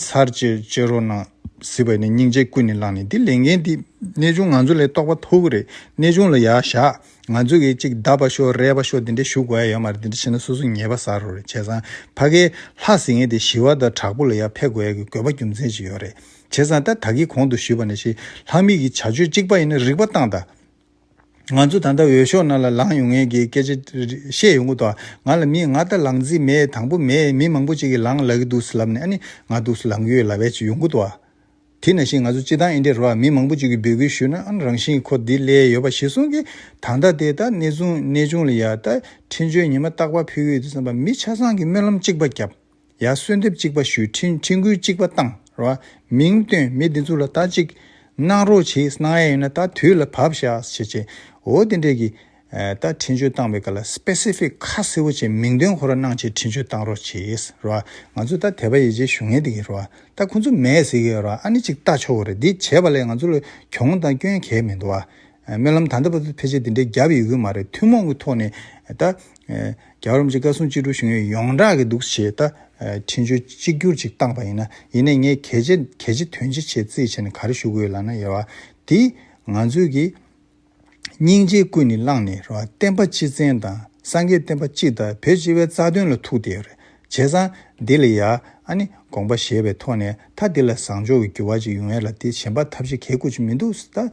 ཚར་བཅད་བཅད་རོགས་གནང། ཟེར་བ་ནི་སྙིང་རྗེ་ཀུན་ནས་བསླངས་ནས་འདི་ལས་འགན་འདི་གནས་ཆུང་ང་ཚོ་ལས་རྟོགས་པ་ཐུག་གི་རེད་གནས་ཆུང་ལ་ཡག་བཞག་ང་ཚོ་གིས་ཅིག་བདའ་བ་ཤོག་རལ་བ་ཤོག་དེ་འདྲས་ཞུ་དགོས་ཡོད་མ་རེད་དེ་འདྲས་བྱས་ན་སོ་སོ་ཉེས་པ་ཟ་རོ་རེད་བྱས་ཙང་ཕ་གའི་ལྷ་ཟེར་མཁན་དེ་ཞི་བ་དང་དྲག་པོ་ལ་ཡར་ཕེབས་དགོས་ཡ་གི་དགོས་པ་རྒྱུ་མཚན་ཅིག་ཡོད་རེད་བྱས་ཙང་ད་ད་གིས་གོང་དུ་ཞུས་པ་ནས་ཤི་ལྷག་མིག་གི་བྱ་སྤྱོད་གཅིག་པ་ཡིན་ན་རིག་པ་སྟངས་དང། ང་ཚོ་ད་ལྟ་འོས་ཤོག་ནང་ལ་ལངས་ཡོང་ངེས་ཀྱི་སྐད་ཆ་བཤད་ཡོང་གི་འདུག་ང་ལ་མིས་ང་ལྟར་ལངས་རྩིས་མེད་དང་པོ་མེད་མི་མང་པོ་ཅིག་གིས་ལངས་ལ་གི་འདུག་ལབ་ནས་ཨ་ནི་ང་འདུག་ལངས་ཀྱི་ཡོད་ལབ་བས་ཅི་ཡོང་གི་འདུག་ཨ། དེ་ན་བཞིན་ང་ཚོ་སྤྱི་བཏང་ཨེ་འདྲེ་རོ་ཨ་མི་མང་པོ་ཅིག་གིས་འབོད་སྐུལ་ཞུས་ན་ཨ་རང་བཞིན་གྱི་ཁོ་འདི་སླད་ཡོད་པ་ཞིག་གསུང་གི་ད་ལྟ་དེ་ད་གནས་ཆུང་ལ་ཡ་ད་འཕྲིན་བཅོལ་ཉི་མ་རྟག་པ་ཕུལ་གི་འདུག་བསམ་པ་མི་ཆ་ཚང་གིས་སྨོན་ལམ་གཅིག་པ་བརྒྱབ། ཡ། གསོལ་འདེབས་གཅིག་པ་ཞུས་ཁྲིན་ཁྲིན་གུས་གཅིག་པ་བཏང་ར། མིང་བཏོན་མི་འདི་ཚོ་ལ་ལྟ་ཅིག། གནང་རོགས་བྱེད་གནང་ཡ་ཡིན་ན་ལྟ་དུས་ལ་བབས་བཞག་བྱེད་བྱེད། འོ་དེ་འདྲས་ཀྱི། ད་ཁྲིན་ཆོས་བཏང་བའི་སྐར་ལ Specific ཁ་གསལ་བོ་བྱེད་མིང་འདོན་ཁོ་ར་གནང་བྱེད་ཁྲིན་ཆོས་བཏང་རོགས་བྱེད་ར། ང་ཚོ་ད་དད་པ་ཡེ་བྱེད་ཞུ་ངེས་དེ་གི་ར། ད་ཁོ་ཚོ་མེད་ཟེར་གི་ར་ཨ་ནི་ཅིག་ལྟ་ཆོག་གི་ར་འདི་བྱས་པ་ལས་ང་ཚོ་ལ་གྱོང་དང་སྐྱོན་གས་མི་འདུག་ཨ། རྨི་ལམ་ད་ལྟ་བར་དུ་ཕལ་ཆེར་འདི་འདྲའི་རྒྱབ་ཡོད་ཀྱི་མ་རེད་ཐུན་མོང་གི་ཐོག་ནས་ད། རྒྱ་གར་རིམ་གཅིག་བཀའ་སྲུང་གཅིག་དྲུག་བཞུགས་ཡོད་ཡོངས་གྲགས་ཀྱི་འདུག་ཞེས་ད། ཕྲིན་བཅོལ་གཅིག་གྱུར་ཅིག་བཏང་པ་ཡིན་ན་ཡིན་ནས་ངས་གལ་ཆེ་གལ་ཆེ་དོན་ཆེ་ཆེད་རྩིས་བྱས་ནས་ག་རེ་བཞུགས་དགོས་ལགས་ན་ཡ་བ། དེ་ང་ཚོས་ཀྱི། སྙིང་རྗེའི་ཀུན་ནས་བསླངས་ནས་རེད་བ་བསྟན་པ་སྤྱི་བཙན་དང་སངས་རྒྱས་བསྟན་པ་སྤྱི་དང་བོད་སྤྱི་བའི་རྩ་དོན་ལ་ཐུག་བསྡད་ཡོད་རེད། བྱས་ཙང་འདི་ལ་ཡ་ཨ་ནི་དགོངས་པ་བཞེས་པའི་ཐོག་ནས་མཐའ་འདི་ལ་བཟང་ཕྱོགས་ཀྱི་འགྱུར་བ་ཅིག་ཡོང་ཡས་ལ་དེ་བྱེད་འབའ་ཐབས་ཤེས་གལ་དགོས་ཅིག་མི་འདུག་ཟེར་ད་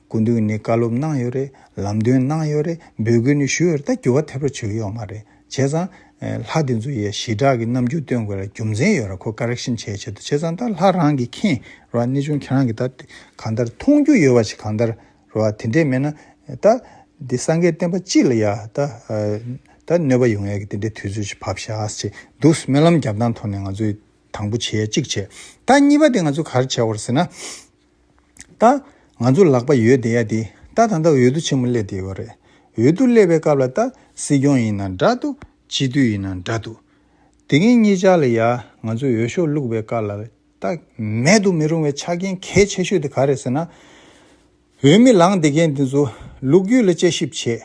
དགུ་འདུག་ནི་བཀའ་སློབ་གནང་ཡོད་རེད་ལམ་སྟོན་གནང་ཡོད་རེད་འབོད་སྐུལ་ནི་ཞུས་ཡོད་རེད་ད་འགྱུར་བ་ཐེབས་རོགས་བྱེད་ཀྱི་ཡོག་མ་རེད་བྱས་ཙང་ལྷ་འདི་ཚོ་ཡས་ཞི་དྲག་གི་རྣམ་འགྱུར་སྟོན་དགོས་ལ་རྒྱུ་མཚན་ཡོད་ར་ཁོ Correction བྱས་བྱས་འདུག་བྱས་ཙང་ད་ལྷ་རང་གི་མཁྱེན་རོགས་གནས་ཆུང་ཁྱེད་རང་གི་ད་གང་ལྟར་མཐོང་རྒྱུ་ཡོད་བ་ཞིག་གང་ལྟར་རོ། དེ་འདྲས་མེད་ན། ད། འདི་སངས་རྒྱས་བསྟན་པ་ཅི་ལ་ཡ། ད། ད་གནོད་པ་ཡོང་ཡ་གི་དེ་འདྲས་དུས་ཚོད་ཅིག་བབ་ཤགས་ཅེས་འདུག་སྨོན་ལམ་རྒྱབ་སྟངས་ཐོག་ནས་ང་ཚོས་དང་པོ་བྱས་གཅིག་བྱས། ད་གཉིས་པ་དེ་ང་ཚོས་གར་བྱས་བར་ཟེར་ན། ད། ང་ཚོ་ལག་པ་ཡོད་བསྡད་ཡ་དེ། ད་ད་ད་འོས་བསྡུ་ཆེན་མོ་སླེབས་བསྡད་ཡོད་རེད། འོས་བསྡུ་སླེབས་པའི་སྐབས་ལ་ད། སྲིད་སྐྱོང་ཡིན་ན་འདྲ་འདུག་སྤྱི་འཐུས་ཡིན་ན་འདྲ་འདུག། དེ་ངེད་གཉིས་ཅག་ལ་ཡ། ང་ཚོས་འོས་ཤོག་བླུགས་པའི་སྐབས་ལ། རྟགས། མེད་དུ་མི་རུང་བའི་ཆ་རྐྱེན་གལ་ཆེ་ཤོས་དེ་ག་རེད་ཟེར་ན། འོས་མི་ལངས་དགེ་རྒན་དེ་ཚོ་ལུག་རྒྱུད་ལ་དཔྱད་ཞིབ་བྱེད།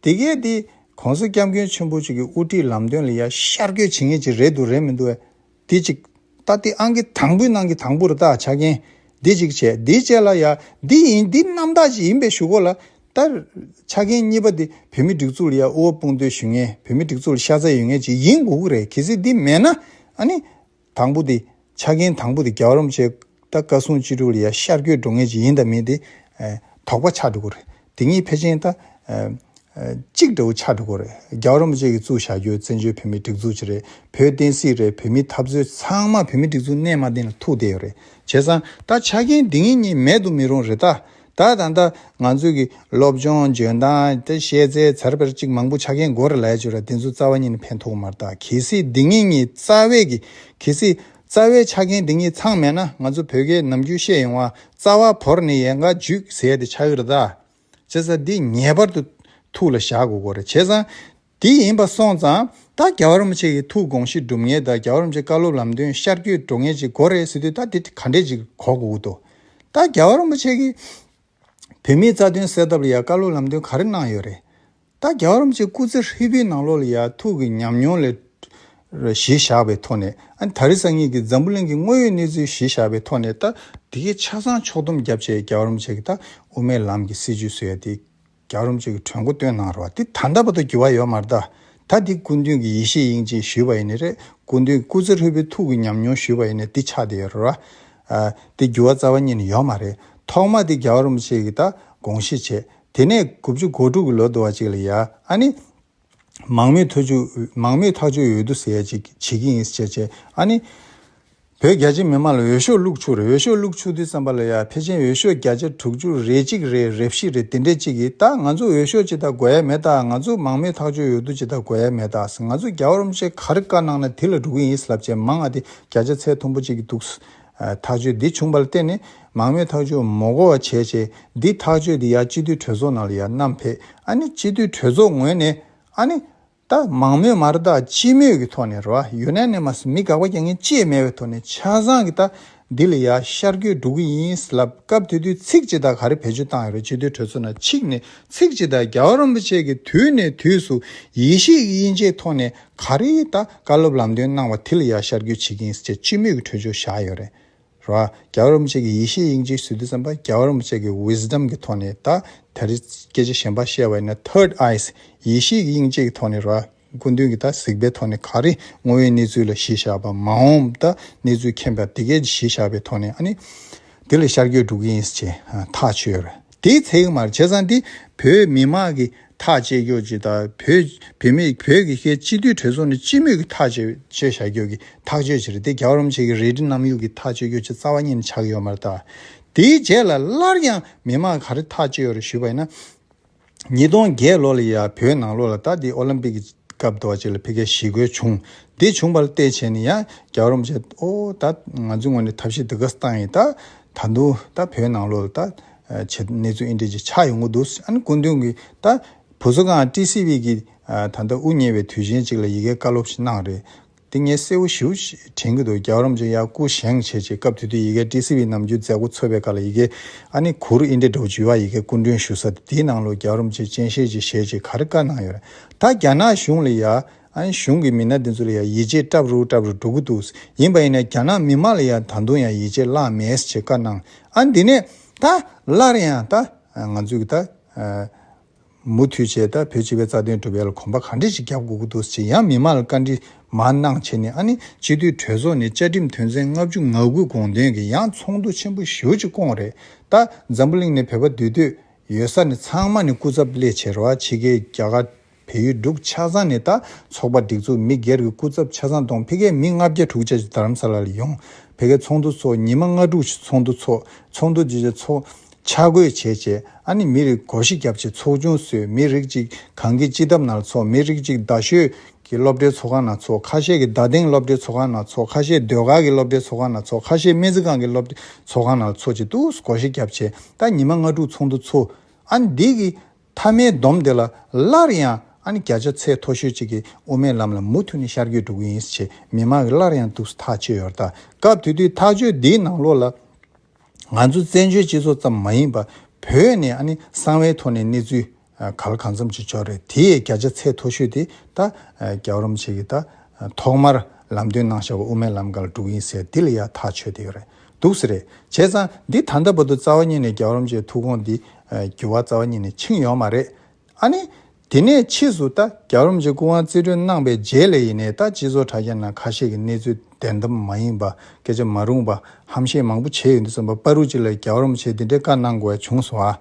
དེ་གས་དེ་གོང་ས་སྐྱབས་མགོན་ཆེན་པོ་ཅིག་གི་དབུ་ཁྲིད་ལམ་སྟོན་ལ་ཡར་ཤར་སྐྱོད་བྱེད་ངེས་ཅིག་རེད་འདུག་རེད་མི་འདུག་ཨེ། དེ་ཅིག། ད་ལྟའི་ཨང་ཀི་དང་པོའི་ནང་གི་དང་པོ་རུ་རྟགས་ཆ་རྐྱེན། དེ་ཅིག་བྱས་དེ་བྱས་ལ་ཡར་འདི་ཡིན་འདི་རྣམ་དག་ཅིག་ཡིན་པའི་ཞུ་སྒོ་ལ། ད། ཆ་རྐྱེན་གཉིས་པ་དེ་བོད་མི་སྒྲིག་འཛུགས་ལ་ཡར་དབུ་བ་དཔུང་སྟོད་ཞུ་ངེས་བོད་མི་སྒྲིག་འཛུགས་ལ་ཤ་ཚ་ཡོད་ངེས་ཅིག་ཡིན་དགོས་ཀྱི་རེད་གལ་སྲིད་དེ་མེད་ན་ཨ་ནི། དང་པོ་དེ། ཆ་རྐྱེན་དང་པོ་དེ་རྒྱ་རོམ་བཅས་ད་བཀའ་སྲུང་སྤྱི་འགྲོ་ལ་ཡ་ཤར་སྐྱོད་འགྲོ་ངེས་ཅི་ཡིན་ད་མིན་ཏེ། དོགས་པ་ཆགས་འགྲོ་གི་རེད། དེ་གཉིས་ཕལ་ཆེན་ད། གཅིག་འདྲ་བོ་ཆགས་འགྲོ་གི་རེད། རྒྱ་རོམ་བཅས་ཀྱི་གཙུག་བཞག་རྒྱུ་བཙན་བྱོལ་བོད་མིའི་སྒྲིག་འཛུགས་ཅི་རེད་བོད་བསྟན་སྲིད་རེད་བོད་མིའི་འཐབ་རྩོད་ཚང་མ་བོད་མིའི་སྒྲིག་འཛུགས་གནས་མ་བསྟན་ལ་ཐུག་བསྡད་ཡོད་རེད་བྱས་ཙང་ད་ཆ་རྐྱེན་དེ་ངེས་གཉིས་མེད་དུ་མི་རུང་རེད་ད། ད་ད་ལྟ་ང་ཚོས་ཀྱི་སློབ་སྦྱོང་འཇོན་ཐང་དེ་བཤད་རྩལ་ཚར་བར་གཅིག་མང་པོ་ཆ་རྐྱེན་འགོ་ར་ལས་བྱུ་ར་དེ་ཚོ་རྩ་བ་ཉིད་ནས་ཕན་ཐོག་མར་ལྟ་གལ་སྲིད་འདི་ངེད་གཉིས་རྩ་བས་ཀྱི་གལ་སྲིད་རྩ་བའི་ཆ་རྐྱེན་འདི་གཉིས་ཚང་མེད་ན་ང་ཚོ་བོད་སྐད་ནམ་རྒྱུན་བཤད་ཡོང་བ་རྩ་བ་བོར་ནས་ཡལ་འགའ་འཇུག་ཟེར་ཏེ་ཆགས་ཡོད་ར་ད། བྱས་ཙང་འདི་ངེས་པར་དུ་ཐུགས་ལ་བཞག་དགོས་གོ་ར་བྱས་ཙང། དེ་ཡིན་པ་སོང་ཙང་ད་རྒྱ་བ་རིན་པོ་ཆེ་གི་ཐུགས་དགོངས་གཞི་སྒྲུབ་ངེས་དང་རྒྱ་བ་རིན་པོ་ཆེ་བཀའ་སློབ་ལམ་སྟོན་ཤར་བསྐྱོད་འགྲོ་ངེས་ཅིག་གོ་རེ་ཟི་དུས་ད་དེ་ག་འདྲས་ཅིག་གོ་དགོས་ཀྱི་འདུག་ད་རྒྱ་བ་རིན་པོ་ཆེ་གི་བོད་མིའི་རྩ་དོན་གསལ་ཐབས་ལ་ཡང་བཀའ་སློབ་ལམ་སྟོན་ག་རེ་གནང་ཡོད་རེད་ད་རྒྱ་བ་རིན་པོ་ཆེ་སྐུ་ཚེ་ཧྲིལ་པོའི་ནང་ལོགས་ལ་ཡང་ཐུགས་ཀྱི་ཉམས་མྱོང་ལས་གཞི་བཞག་པའི་ཐོག་ནས་ཨ་ད་རི་སང་ཉིད་ཀྱི་འཛམ་བུ་གླིང་གི་དངོས་ཡོད་གནས་ཚུལ་གཞི་བཞག་པའི་ཐོག་ནས་ད། དེ་གའི་ཆ་ཚང་ཕྱོགས་བསྡོམས་རྒྱབ་བྱས་རྒྱ་བ་རིན་པོ་ཆེ་གི་ད་དབུ་མའི་ལམ་གྱི་སྲིད་བྱུས་སུ་ཡང་དེ་རྒྱ་རོམ་ཅིག་གི་གྲོས་མགོ་བཏོན་གནང་རོགས་འདི་ད་འདའ་བ་དང་འགྱུར་བ་ཡོད་མ་རེད་ད་ད་འདི་སྐུ་མདུན་གྱི་ཡེ་ཤེས་དབྱིངས་ཅེས་ཞུས་པ་ཡིན་ནི་རེད་སྐུ་མདུན་གྱི་སྐུ་ཚེ་ལྷོད་པོའི་ཐུགས་ཀྱི་ཉམས་མྱོང་ཞུས་པ་ཡིན་ནི་འདི་ཆགས་འདི་ཡོད་རེད་འདི་འགྱུར་བ་རྩ་བ་ཉིད་ནས་ཡོད་མ་རེད་ཐོག་མ་འདི་རྒྱ་རོམ་ཅིག་གིས་ད་དགོངས་བཞེས་བྱས་དེ་ནས་དགུ་བཅུ་གོ་དྲུག་གི་ལོ་དུ་བ་ཅིག་ལ་ཡ་ཨ་ནི། མང་མོས་ཐག་གཅོད་འོས་བསྡུ་ཟེར་ཡ་ཅིག་བྱེད་ཀྱི་ཡིན་ཟེར་བྱས་བྱས་ཨ་ནི། བོད་རྒྱ་ཆེ་མི་མང་ལ་འོས་ཤོག་བླུགས་ཆུག་རེད་འོས་ཤོག་བླུགས་ཆུག་དུས་ཙམ་པ་ལ་ཡ་ཕལ་ཆེན་འོས་ཤོག་བརྒྱ་ཆ་དྲུག་ཅུ་རེ་གཅིག་རེད་རེ་བཞི་རེད་དེ་འདྲས་གཅིག་གི་ད་ང་ཚོ་འོས་ཤོག་ཅི་ད་དགོས་ཡ་མེད་ད་ང་ཚོ་མང་མོས་ཐག་གཅོད་འོས་བསྡུ་ཅི་ད་དགོས་ཡ་མེད་ད་ང་ཚོ་རྒྱ་བོར་མཆེད་གར་བཀའ་གནང་ན་དེ་ལ་འགྲོ་གི་ཡིན་ལབ་བྱས་མང་ཨ་དེ་བརྒྱ་ཆ་ཚད་མཐོན་པོ་གཅིག་གི་འདུག་ཐག་གཅོད་འདི་བྱུང་པ་ལ་བརྟེན་ནས་མང་མོས་ཐག་གཅོད་མོ་གོ་བ་བྱས་རྗེས་འདིས་ཐག་གཅོད་དེ་ཡར་སྤྱི་འཐུས་གྲོས་ཚོགས་ནང་ལ་ཡར་བསྣམས་ཕེབས་ཨ་ནི་སྤྱི་འཐུས་གྲོས་ཚོགས་ངོས་ནས་ཨ་ནི། ད་མང་མོས་མ་རེད་ད་སྤྱི་མོས་ཀྱི་ཐོག་ནས་རེད་བ་ཡོད་ན་ནས་མ་ཟི་མི་དགག་པ་རྒྱག་ངེས་ཅེས་སྨྲས་པའི་ཐོག་ནས་ཆ་ཚང་གི་ད་འདི་ལ་ཡར་ཤར་སྐྱོད་འགྲོ་གི་ཡིན་ཟེར་ལབ་སྐབས་དེ་དུས་ཚིག་སྤྱི་དག་ག་རེ་བེད་སྤྱོད་བཏང་ཡོད་རེད་སྤྱི་འཐུས་གྲོས་ཚོགས་ནང་ཆིག་ནས་ཚིག་སྤྱི་དག་རྒྱ་བ་རིན་པོ་ཆེ་གི་དུས་ནས་དུས་སུ་ཡེ་ཤེས་ཀྱི་དབྱིན་ཇེའི་ཐོག་ནས་ག་རེ་ད་བཀའ་སློབ་ལམ་སྟོན་གནང་བ་དེ་ལ་ཡར་ཤར་རྒྱུག་བྱེད་ཀྱིན་ཟེར་ཅི་སྨོས་ཀྱི་གྲོས་ཆོད་བཞག་ཡོད་རེད་ར། རྒྱ་གར་བོ་ཅག་གི་ཡེ་ཤེས་དབྱིངས་ཀྱི་ཟུར་དུ་བརྩམས་པ་རྒྱ་གར་བོ་ཅག་གི Wisdom གི་ཐོག་ནས་ད་ད་རེ་སྐད་ཆ་གཞན་པ་བཤད་བ་ཡིན་ན Third Eyes ཡེ་ཤེས་ཀྱི་དབྱིངས་དཔྱད་ཀྱི་ཐོག་ནས་ར། སྐུ་མདུན་གྱིས་ད་གཟིགས་པའི་ཐོག་ནས་ག་རེ་ངོ་བོའི་གནས་ཚུལ་ལ་གཞི་བཞག་པ་མ་འོངས་ད་གནས་ཚུལ་མཁྱེན་པར་དེ་གའི་གཞི་བཞག་པའི་ཐོག་ནས་ཨ་ནི་དེ་ལ་ཤར་རྒྱུག་འགྲོ་གི་ཡིན་ཟེར་ཐག་ཆོད་རེད། དེའི་ཚེ་མར་བྱས་ཙང་དེ་བོད་མི་དམངས་ཀྱི་ཐག་བཅད་རྒྱུ་ཇི་ལྟར་བོད་བེད་མེད་བོད་ཀྱི་སྐད་སྤྱི་མཐུས་གྲོས་ཚོགས་ནས་སྤྱི་མོས་ཀྱི་ཐག་བཅད་བཅད་བཞག་རྒྱུ་གི་ཐག་གཅོད་བྱེད་རེད་དེ་རྒྱ་རོམ་བྱེད་ཀྱི་རེད་དྲི་གནམ་ཡུག་གི་ཐག་གཅོད་རྒྱུ་ཆ་རྩ་བ་ཉིད་ནས་ཆགས་ཡོད་མ་རེད་ད། དེའི་རྗེས་ལ་སླར་ཡང་མི་དམངས་ག་རེ་ཐག་གཅོད་ཡོད་རེད་ཞུས་པ་ཡིན་ན། ཉིས་སྟོང་བརྒྱད་ལོ་ལ་ཡ་བོད་ནང་ལོ་ལ་ད་དེ་ཨོ་ལིམ་པིག་གི་སྐབས་རྡོ་རྗེ་ལ་ཕི་ཀའི་ཞི་རྒོལ་བྱུང་དེ་བྱུང་པ་ལ་བལྟས་བྱས་ནས་ཡང་རྒྱ་རོམ་བྱས་ཨོ་ད་ང་ཚོའི་ངོས་ནས་ཐབས་ཤེས་འདི་ག་སྟངས་ཡིན་ད་ད་དུང་ད་བོད་ནང་ལོ་ལ་ད། བྱས། གནས་ཚུལ་ཨེ་འདྲས་ཀྱི་ཆགས་ཡོང་གི་འདུག་ཨ་ནི་སྐུ་མདུན་གྱིས་ད་བུ་ཟོ་ཁང་ཀྲི་སི་བྷི་གིས་ད་ལྟ་དབུ་བརྙེས་པའི་དུས་ཆེན་གཅིག་ལ་ཡི་གེ་བཀའ་སློབ་ཞིག་གནང་རེད། དེ་ངས་གསལ་བོ་ཞིའུ་ཞེས་དྲན་གྱི་འདུག་རྒྱ་གོ་རམ་ཅན་ཡར་སྐུ་བཞེངས་བྱས་རྗེས་སྐབས་དེ་དུས་ཡི་གེ་ཀྲི་སི་བྷི་ནམ་རྒྱུན་མཛད་སྒོ་འཚོགས་པའི་སྐབས་ལ་ཡི་གེ་ཨ་ནི་གུ་རུ་ཨེ་འདྲས་འགྲོ་བྱུས་བ་ཡི་གེ་སྐུ་མགྲོན་ཞུ་ས་དེ་དེའི་ནང་ལོ་རྒྱ་གོ་རམ་ཅན་སྤྱན་ཤེལ་གྱི་ཞལ་གྱི་གར་བཀའ་གནང་ཡོད་རེད་ད་རྒྱ་ནག་གཞུང་ལ་ཡར་གཞུང་གི་མི་སྣ་དེ་ཚོ་ལ་ཡང་ཡིད་ཆེས་སྐྲབ་རུ་སྐྲབ་རུ་འགྲོ་གི་འདུག་ཡིན་པ་ཡིན་ན་རྒྱ་ནག་མི་མང་ལ་ཡང་ད་དུང་ཡང་ཡིད་ཆེས་བརླག་མེད་ཅེས་བཀའ་གནང། ཨ་འདི་ནས་ད་སླར་ཡང་ད་ང་ཚོས་ཀྱི་ད་མུ་མཐུད་ཆེད་ད་བོད་སྤྱི་བའི་རྩ་དོན་སྒྲུབ་ཡ་ལ་གོམ་པ་ག་འདྲེ་ཞིག་རྒྱབ་དགོས་ཀྱི་འདུག་ཅེས་ཡང་མི་མང་ལ་བཀའ་འདྲི་མ་གནང་ཆེད་ནས་ཨ་ནི་སྤྱི་འཐུས་གྲོས་ཚོགས་ནས་བཅའ་ཁྲིམས་དོན་ཚན་ལྔ་བཅུ་ང་དགུའི་དགོངས་དོན་གྱི་ཡང་ཚོགས་འདུ་ཆེན་པོ་ཞུ་ཅིག་སྐོང་རེད་ད་འཛམ་བུ་གླིང་ནས་བོད་པ་འདུས་སྡོད་ཡོད་ས་ནས་ཚང་མ་ནས་སྐུ་ཚབ་ལས་བྱེད་ར་བ་ཕྱི་རྒྱལ་རྒྱ་གར། བལ་ཡུལ་འབྲུག་ཆ་ཚང་ནས་ད་ཚོགས་པ་སྒྲིག་འཛུགས་མི་སྒེར་གྱི་སྐུ་ཚབ་ཆ་ཚང་དང་ཕི་ཀའི་མི་ལྔ་བརྒྱ་དྲུག་བཅས་རྡ་རམ་ས་ལ་ལ་ཡོང་བལ་ཀའི་ཚོགས་འདུ་ཚོགས་ཉིན་མ་ལྔ་དྲུག་བཞི་ཚོགས་འདུ་ཚོགས་ཚོགས་འདུ་བརྗེ་བྱས་ཚོགས་ཆ་བགོས་བྱས་བྱས་ཨ་ནི་མི་རིགས་གོ་ཞི་རྒྱབ་བྱས་ཚོགས་ཆུང་བསོད་མི་རིགས་གཅིག་གངས་སྐྱིད་སྤྱི་ཐབ་ནང་ལ་ཚོགས་མི་རིགས་གཅིག་རྡ་ཤོད་ཀྱི་སློབ་གྲྭའི་ཚོགས་ཁང་ནང་ཚོགས་ཁ་ཤས་ཀྱི་རྡ་སྟེང་སློབ་གྲྭའི་ཚོགས་ཁང་ནང་ཚོགས་ཁ་ཤས་སྡོད་སྒར་གྱི་སློབ་གྲྭའི་ཚོགས་ཁང་ནང་ཚོགས་ཁ་ཤས་སྨན་རྩིས་ཁང་གི་སློབ་གྲྭའི་ཚོགས་ཁང་ནང་ལ་ཚོགས་བྱས་འདུག་གོ་ཞི་རྒྱབ་བྱས་ད་ཉིན་མ་ལྔ་དྲུག་ཚོགས་འདུ་ཚོགས་ཨ་ནི་འདི་གི་མཐའ་མའི་སྡོམ་དེ་ལ་སླར་ཡང་ཨ་ནི་བརྒྱ་ཆ་ཚད་མཐོ་ཤོས་གཅིག་གིས་དབུ་མའི་ལམ་ལ་མུ་མཐུད་ནས་ཤར་སྐྱོད་འགྲོ་གི་ཡིན་ཞེས་མི་མང་གིས་སླར་ཡང་དུག་ཐག་གཅོད་ཡོད། ད་སྐབས་དེ་དུས་ཐག་གཅོད་འདིའི་ནང་ལོགས་ལ། ང་ཚོ་བཙན་བྱོལ་སྤྱི་ཚོགས་ཙམ་མ་ཡིན་པར་བོད་ནས་ཨ་ནི་གསང་བའི་ཐོག་ནས་གནས་ཚུལ་ག་ལ་གང་འཚམ་ཅིག་འབྱོར་རེད་དེ་ཡི་བརྒྱ་ཆ་ཚད་མཐོ་ཤོས་དེ་ད་རྒྱ་རོམ་ཆེ་གིས་ད་ཐོག་མར་ལམ་སྟོན་གནང་བཞག་པ་དབུ་མའི་ལམ་ག་ལ་འགྲོ་གི་ཡིན་ཟེར་འདི་ལ་ཡང་ཐག་ཆོད་དེ་ཡོད་རེད་འདུག་ཟེར་རེད་བྱས་ཙང་འདི་ད་ལྟ་བར་དུ་རྩ་བ་ཉིད་ནས་རྒྱ་རོམ་ཆེའི་ཐུགས་དགོངས་འདི་རྒྱུ་བ་རྩ་བ་ཉིད་ནས་འཆིང་ཡོང་མ་རེད་ཨ་ནི། དེ་ནས་ཕྱིས་སུ་ད་རྒྱ་རོམ་གྱི་སྐུ་དབང་རྩིས་སྤྲོད་གནང་པའི་རྗེས་ལས་ཡིན་ནའི་ད་སྤྱི་ཚོགས་དྲ་རྒྱ་ནང་ཁ་ཤས་ཀྱི་གནས་ཚུལ་བདེན་གཏམ་མ་ཡིན་པ་སྐད་ཆ་མ་རུང་པ་ཧམ་བཤད་མང་པོ་བྱས་ཡོད་འདུག་བསམ་པ་པ་རུ་ཅི་ལ་རྒྱ་རོམ་ཆེད་འདི་འདྲའི་བཀའ་གནང་དགོས་བྱུང་སོང་ཨ།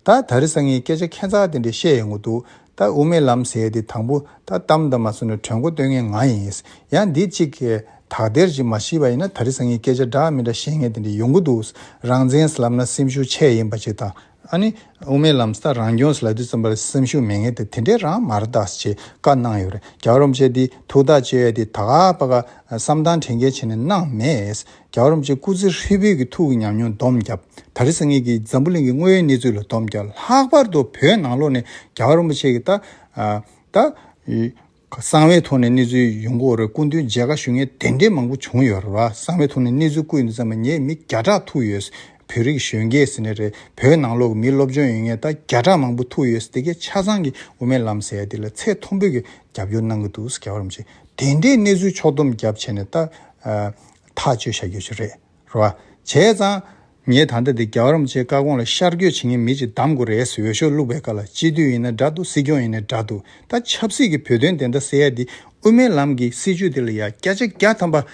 ད་ད་རི་ས་ངའི་སྐད་ཆ་ཁྱད་མཚར་དེ་འདྲས་བཤད་ཡོང་གི་འདུག་ད་དབུ་མའི་ལམ་ཟེར་དེ་དང་པོ་ད་གཏམ་དང་མ་མཚོན་ནས་གྲོས་འགོ་བཏོན་མཁན་ང་ཡིན། ཡང་འདི་གཅིག་དག་སྡེར་གཅིག་མ་ཤི་བ་ཡིན་ན་ད་རི་སང་གིས་སྐད་ཆ་འདྲ་མི་འདྲ་བཤད་མཁན་དེ་འདྲ་ཡོང་གི་འདུག་རང་བཙན་ཟླབ་ན་སེམས་ཤུགས་ཆེ་ཡིན་པ་ཅིག་དང། ཨ་ནི་དབུ་མའི་ལམ་ད་རང་སྐྱོང་ཟླ་དུས་ཙམ་པ་ལ་སེམས་ཤུགས་མེད་མཁན་དེ་དེ་འདྲས་རང་མ་རེད་ད་ཅེས་བཀའ་གནང་ཡོད་རེད་རྒྱ་རོམ་བཅས་འདི་ཐུགས་ཐག་བཅད་ཡོད་དེ་ད་བར་བཀའ་བསམ་དང་དྲན་མཁན་ཆེ་ནས་གནང་མེད། རྒྱ་རོམ་གྱི་སྐུ་ཚེ་ཧྲིལ་བོའི་གི་ཐུགས་ཀྱི་ཉམས་མྱོང་བསྡོམས་བརྒྱབ་ད་རེས་ངེད་ཀྱིས་འཛམ་བུ་གླིང་གི་དངོས་ཡོད་གནས་ཚུལ་ལ་བསྡོམས་བརྒྱབ་ལྷག་པར་དུ་བོད་ནང་ལོགས་ནས་རྒྱ་རོམ་པོ་ཆེ་གི་ད་ལྟ་གསང་བའི་ཐོག་ནས་གནས་ཚུལ་ཡོང་སྒོ་རེ་སྐུ་མདུན་མཇལ་ཁ་ཞུ་མཁན་དེ་འདྲའི་མང་པོ་བྱུང་ཡོད་རེད་བ་གསང་བའི་ཐོག་ནས་གནས་ཚུལ་སྐུ་ཡོད་ཙམ་ངས་མི་བརྒྱ་ཕྲག་ཐུག་ཡོད་བོད་རིགས་གཞོན་སྐྱེས་ཟེར་ནས་རེད་བོད་ནང་ལོགས་ཀྱི་མི་སློབ་སྦྱོང་ཡོད་ངེས་ད་བརྒྱ་ཕྲག་མང་པོ་ཐུག་ཡོད་དེ་གས་ཆ་ཚང་གི་དབུ་མའི་ལམ་ཟེར་ཡ་དེ་ལ་ཚད་མཐོན་པོས་གི་རྒྱབ་སྐྱོར་གནང་གི་འདུག་རྒྱ་རོམ་ཆེ་དེ་འདྲའི་གནས་ཚུལ་ཕྱོགས་བསྡོམས་བརྒྱབ་བྱས་ནས་ད་ཐག་གཅོད་བྱ་རྒྱུ་ཞིག་རེད་རེད་བ། བྱས་ཙང། ངས་ད་ལྟ་འདི་རྒྱ་གར་རིན་པོ་ཆེའི་བཀའ་དགོངས་ལ་ཤར་སྐྱོད་བྱེད་མཁན་མི་ཅིག་གདམ་དགོས་རེད་ཟེར་འོས་ཤོག་བླུགས་པའི་བཀའ་ལ་སྤྱི་མཐུས་ཡིན་ན་འདྲ་འདུག་སྲིད་སྐྱོང་ཡིན་ན་འདྲ་འདུག་ད་ཆབ་སྲིད་ཀྱི་བོད་དོན་བདེན་མཐའ་གསལ་ཡ་འདི་དབུ་མའི་ལམ་གྱི་སྲིད་བྱུས་འདི་ལ་ཡ་སྐྱ་ཆ་སྐྱ་ཐམ་པ།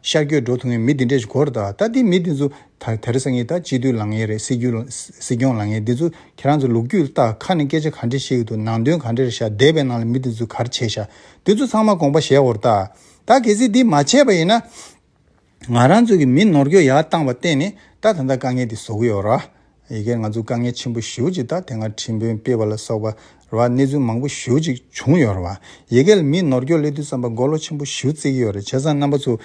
ཤར་སྐྱོད་འགྲོ་ཐུབ་མཁན་མི་འདི་འདྲས་ཤིག་གོ་རེ་ད་ད་འདི་མི་འདི་ཚོ་ད་དེ་རེ་ས་ངེས་ད་སྤྱི་མཐུས་ལང་ངེས་རེད་སྲིད་རྒྱུ་སྲིད་སྐྱོང་ལང་ངེས་འདི་ཚོ་ཁྱེད་རང་ཚོ་ལུག་ཁྱུ་ལྟ་ཁ་ནས་སྐད་ཆ་ག་འདྲས་བཤད་གི་འདུག་ནང་དོན་ག་འདྲས་རེད་ཤག་སྡེ་བའི་ནང་ལ་མི་འདི་ཚོ་ག་རེ་བྱས་ཤག་འདི་ཚོ་ཚང་མ་དགོངས་པ་བཞེས་འོར་ད། ད་གལ་སྲིད་འདི་མ་བྱས་པ་ཡིན་ན། ང་རང་ཚོ་གི་མི་ནོར་འགྱོད་ཡག་བཏང་བ་བརྟེན་ནས་ད་ད་ལྟ་དཀའ་ངལ་འདི་བཟོ་གི་ཡོད་ར། ཡི་གེར་ང་ཚོ་དཀའ་ངལ་ཆེན་པོ་ཞུ་ཅིག་ད་དེ་སྔར་ཁྲིམས་དཔོན་སྤེལ་བ་ལ་སོགས་པ་ར་བ་གནས་ཚུལ་མང་པོ་ཞུ་ཅིག་བྱུང་ཡོད་ར་བ། ཡི་གེ་ལ་མི་ནོར་འགྱོད་སླེ་དུས་བསམ་པ་མགོ་ལོག་ཆེན་པོ་ཞུ་རྩེ་གི་ཡོད་ར་བྱས་ཙང་རྣམ་པ་ཚོ།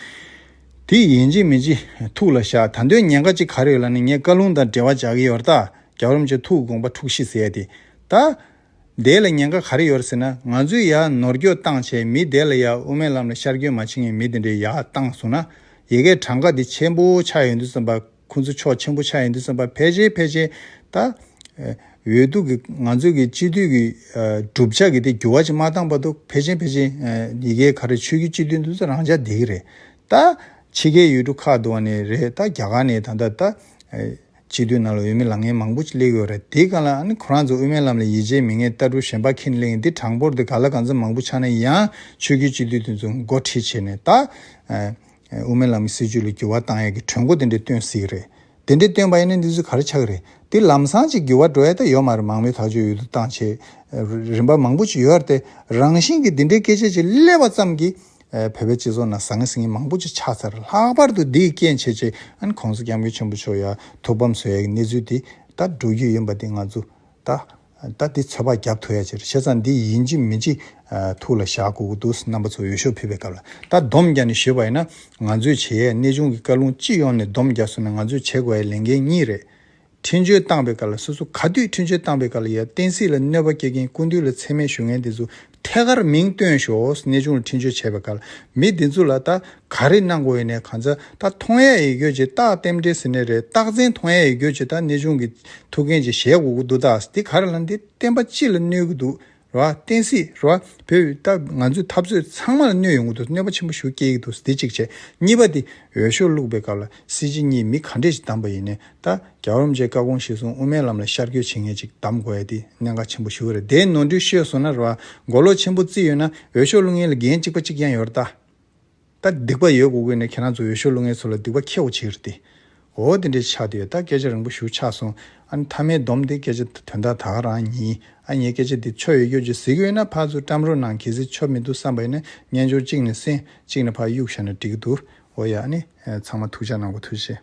དེ་ཡིན་ཅིག་མིན་ཅིག་ཐུགས་ལ་བཞག་ད་འདོད་ཉན་ཁ་ཅིག་ག་རེ་ཡོད་ལ་ནི་ངས་བཀའ་ལུང་དང་འབྲེལ་བ་བྱ་གི་ཡོད་ར་ད་རྒྱབ་རོམ་བྱས་ཐུགས་དགོངས་པ་འཁྲུགས་ཤིག་ཟེར་ཏེ་ད། བདེ་ལ་ཉེན་ཁ་ག་རེ་ཡོད་ཟེར་ན་ང་ཚོས་ཡ་ནོར་སྐྱོ་སྟངས་བྱས་མི་བདེ་ལ་ཡ་དབུ་མའི་ལམ་ལ་ཤར་སྐྱོན་མ་བྱེད་ངེས་མི་དེ་འདྲའི་ཡ་སྟངས་བཟུང་ན་ཡེ་གེ་གྲངས་ཀ་འདི་ཆེན་པོ་ཆགས་ཡོད་འདུག་བསམ་པ་ཁུ་ཚུར་ཕྱོགས་ཆེན་པོ་ཆགས་ཡོད་འདུག་བསམ་པ་ཕལ་ཆེར་ཕལ་ཆེར་ད་འོས་བསྡུ་གི་ང་ཚོ་གི་སྤྱི་འཐུས་ཀྱི་གྲུབ་ཆ་གི་དེ་འགྱུར་བ་ཅིག་མ་བཏང་བར་དུ་ཕལ་ཆེན་ཕལ་ཆེར་ཡི་གེ་ག་རེ་ཆོས་རྒྱུད་སྤྱི་འཐུས་འདུག་ཚོ་རང་ཅག་འདི་གི་རེད་ད། ཕྱི་རྒྱལ་ཡུལ་གྲུ་ཁག་ཏུ་བ་ནས་རེད་ད་རྒྱ་གར་ནས་ད་ད་ད། སྤྱི་འཐུས་རྣམས་ལ་འོས་མི་ལང་ངན་མང་པོ་གླེགས་ཡོད་རེད་དེ་ག་ལ་ཨ་ནི་ཁོ་རང་ཚོ་དབུ་མའི་ལམ་ལ་ཡིད་ཆེས་མི་ངན་ལྟ་གྲུ་ཞན་པ་ཁྱིན་གླེང་འདི་དྲང་པོར་དེ་ག་ལ་གང་ཚེ་མང་པོ་ཆགས་ན་ཡང་ཆོས་རྒྱུད་སྤྱི་འཐུས་དེ་ཚོ་མགོ་ཁྲིད་བྱེད་ནས་ད་དབུ་མའི་ལམ་གྱི་སྲིད་ཇུས་ལ་འགྱུར་བ་བཏང་ཡག་གི་གྲོས་འགོ་དེ་འདྲས་བཏོན་སྲིད་གི་རེད་དེ་འདྲས་བཏོན་པ་ཡིན་ན་འདི་ཚོས་ག་རེ་ཆགས་གི་རེད་དེ་ལམ་སང་ཅིག་འགྱུར་བ་འགྲོ་ཡ་ད་ཡོད་མ་རེད་མང་མོས་ཐག་གཅོད་ཡོད་དུ་བཏང་བྱས་རིམ་པ་མང་པོ་ཅིག་ཡོད་རེད་དེ་རང་བཞིན་གྱི་འདི་འདྲའི་སྐད་ཆ་ཅིག་གླེགས་པ་ཙམ་གྱིས། བོད་པའི་སྤྱི་ཚོགས་ནང་བཟང་ངན་སྲིད་ངན་མང་པོ་ཅིག་ཆགས་ཚར་ལྷག་པར་དུ་འདིའི་རྐྱེན་བྱེད་ཆེད་ཨན་གོང་ས་སྐྱབས་མགོན་ཆེན་པོ་མཆོག་ཡ་ཐུག་བམ་ཟོས་ཡའི་གནས་ཚུལ་དེ་ད་འགྲོ་རྒྱུ་ཡིན་པ་དེ་ང་ཚོ་ད་ལྟ་དེ་ཚོད་དཔག་རྒྱབ་ཐུག་ཡ་ཕྱིར་བྱས་ཙང་འདི་ཡིན་གཅིག་མིན་གཅིག་ཐུག་ལ་བཞག་དགོས་ཀྱི་འདུག་རྣམ་པ་ཚོ་འོས་ཤོག་ཕུལ་བའི་སྐབས་ལ་ད་བསྡོམས་བརྒྱབ་ནས་ཞུས་པ་ཡིན་ན་ང་ཚོས་བྱེད་ཡའི་གནས་ཆུང་གི་བཀའ་ལུང་སྤྱི་ཡོངས་ནས་བསྡོམས་བརྒྱབ་སོང་ནས་ང་ཚོས་བྱེད་དགོས་ཡའི་ལས་འགན་གཉིས་རེད། ཁྲིམས་གཅོད་བཏང་པའི་སྐབས་ལ་སོ་སོ་ག་དུས་ཁྲིམས་གཅོད་བཏང་པའི་སྐབས་ལ་ཡ་བསྟན་སྲིད་ལ་གནོད་པ་སྐྱེལ་མཁན་སྐུ་མདུན་ལ་འཚེ་མེད་ཞུ་ངན་དེ་ཚོ་ཐད་ཀར་མིང་བཏོན་ཞོགས་གནས་ཆུང་ལ་ཁྲིམས་གཅོད་བྱས་པའི་སྐབས་ལ་མི་དེ་ཚོ་ལ་ད་ག་རེ་གནང་དགོས་ཡོད་ནས་གང་ཚ་ད་མཐོང་ཡ་ཡི་གོ་ཅེས་རྟགས་གཏེམ་འབྲེལ་ཟེར་ནས་རེད་རྟགས་མཚན་མཐོང་ཡ་ཡི་གོ་ཅེས་ད་གནས་ཆུང་གི་ཐུགས་འགན་ཅིག་བཞེས་དགོས་ཀྱི་འདུག་རྟགས་དེ་ག་རེ་ལ་འདི་བསྟན་པ་སྤྱི་ལ་གནོད་ཀྱི་འདུག་རེད། རེད། བསྟན་སྲིད། རེད། བོད་ཡུལ་སྟབས་ང་ཚོའི་འཐབ་རྩོད་ཚང་མ་ལ་གནོད་ཡོང་གི་འདུག་གནོད་པ་ཆེན་པོ་ཞུ་སྐྱེལ་གི་འདུག་འདི་གཅིག་བྱས། གཉིས་པ་དེ། འོས་ཤོག་བླུགས་པའི་སྐབས་ལ་སྲིད་སྤྱི་གཉིས་མི་ག་འདྲས་ཞིག་བདམས་པ་ཡིན་ནའི་ད། རྒྱ་རོམ་བཅས་ཀ་གོང་གཞི་བཟུང་དབུ་མའི་ལམ་ལ་ཤར་སྐྱོད་བྱེད་མཁན་ཅིག་བདམས་དགོས་ཡ་དེ་གནད་འགག་ཆེན་པོ་ཞུ་གི་རེད་དེའི་ནོར་འཁྲུལ་ཤོད་སོང་ན་རེད། མགོ་ལོག་ཆེན་པོ་བརྩི་ཡོད་ན་འོས་ཤོག་བླུགས་མཁན་ལ་འགན་གཅིག་པ་གཅིག་ཀྱང་ཡོད་རེད་ད། ད་སྡིག་པ་ཡོད་དགུ་གོ་ནས་ཁྱེད་རང་ཚོ་འོས་ཤོག་བླུག་མཁན་ཚོ་ལ་སྡིག་པ་ཁྱེའོ་བྱེད་རེད་དེ། འོ་དེ་འདྲའི་ཆགས་དུས་ད་སྐད་ཆ་རིང་པོ་ཞུ་ཆགས་སོང་ཨ་ནི་མཐའ་མའི་སྡོམ་དེ་སྐད་ཆ་དོན་དག་དག་རང་ཡིན་ཨ་ངས་སྐད་ཆ་དེ་ཆོ་ཡོད་ཡོད་ཀྱི་ཟིག་ཡོད་ན་ཕར་ཚུར་བཀྲམ་རོགས་གནང་གལ་སྲིད་ཆོ་མི་འདུག་བསམ་པ་ཡིན་ན་སྨྱན་སྦྱོར་གཅིག་ནས་གསན་གཅིག་ནས་ཕར་གཡུག་བཞག་ན་འགྲིག་གི་འདུག་འོ་ཡ་ཨ་ནི་ཚང་མ་ཐུགས་ཆགས་གནང་གོ་ཐུགས་ཆེ།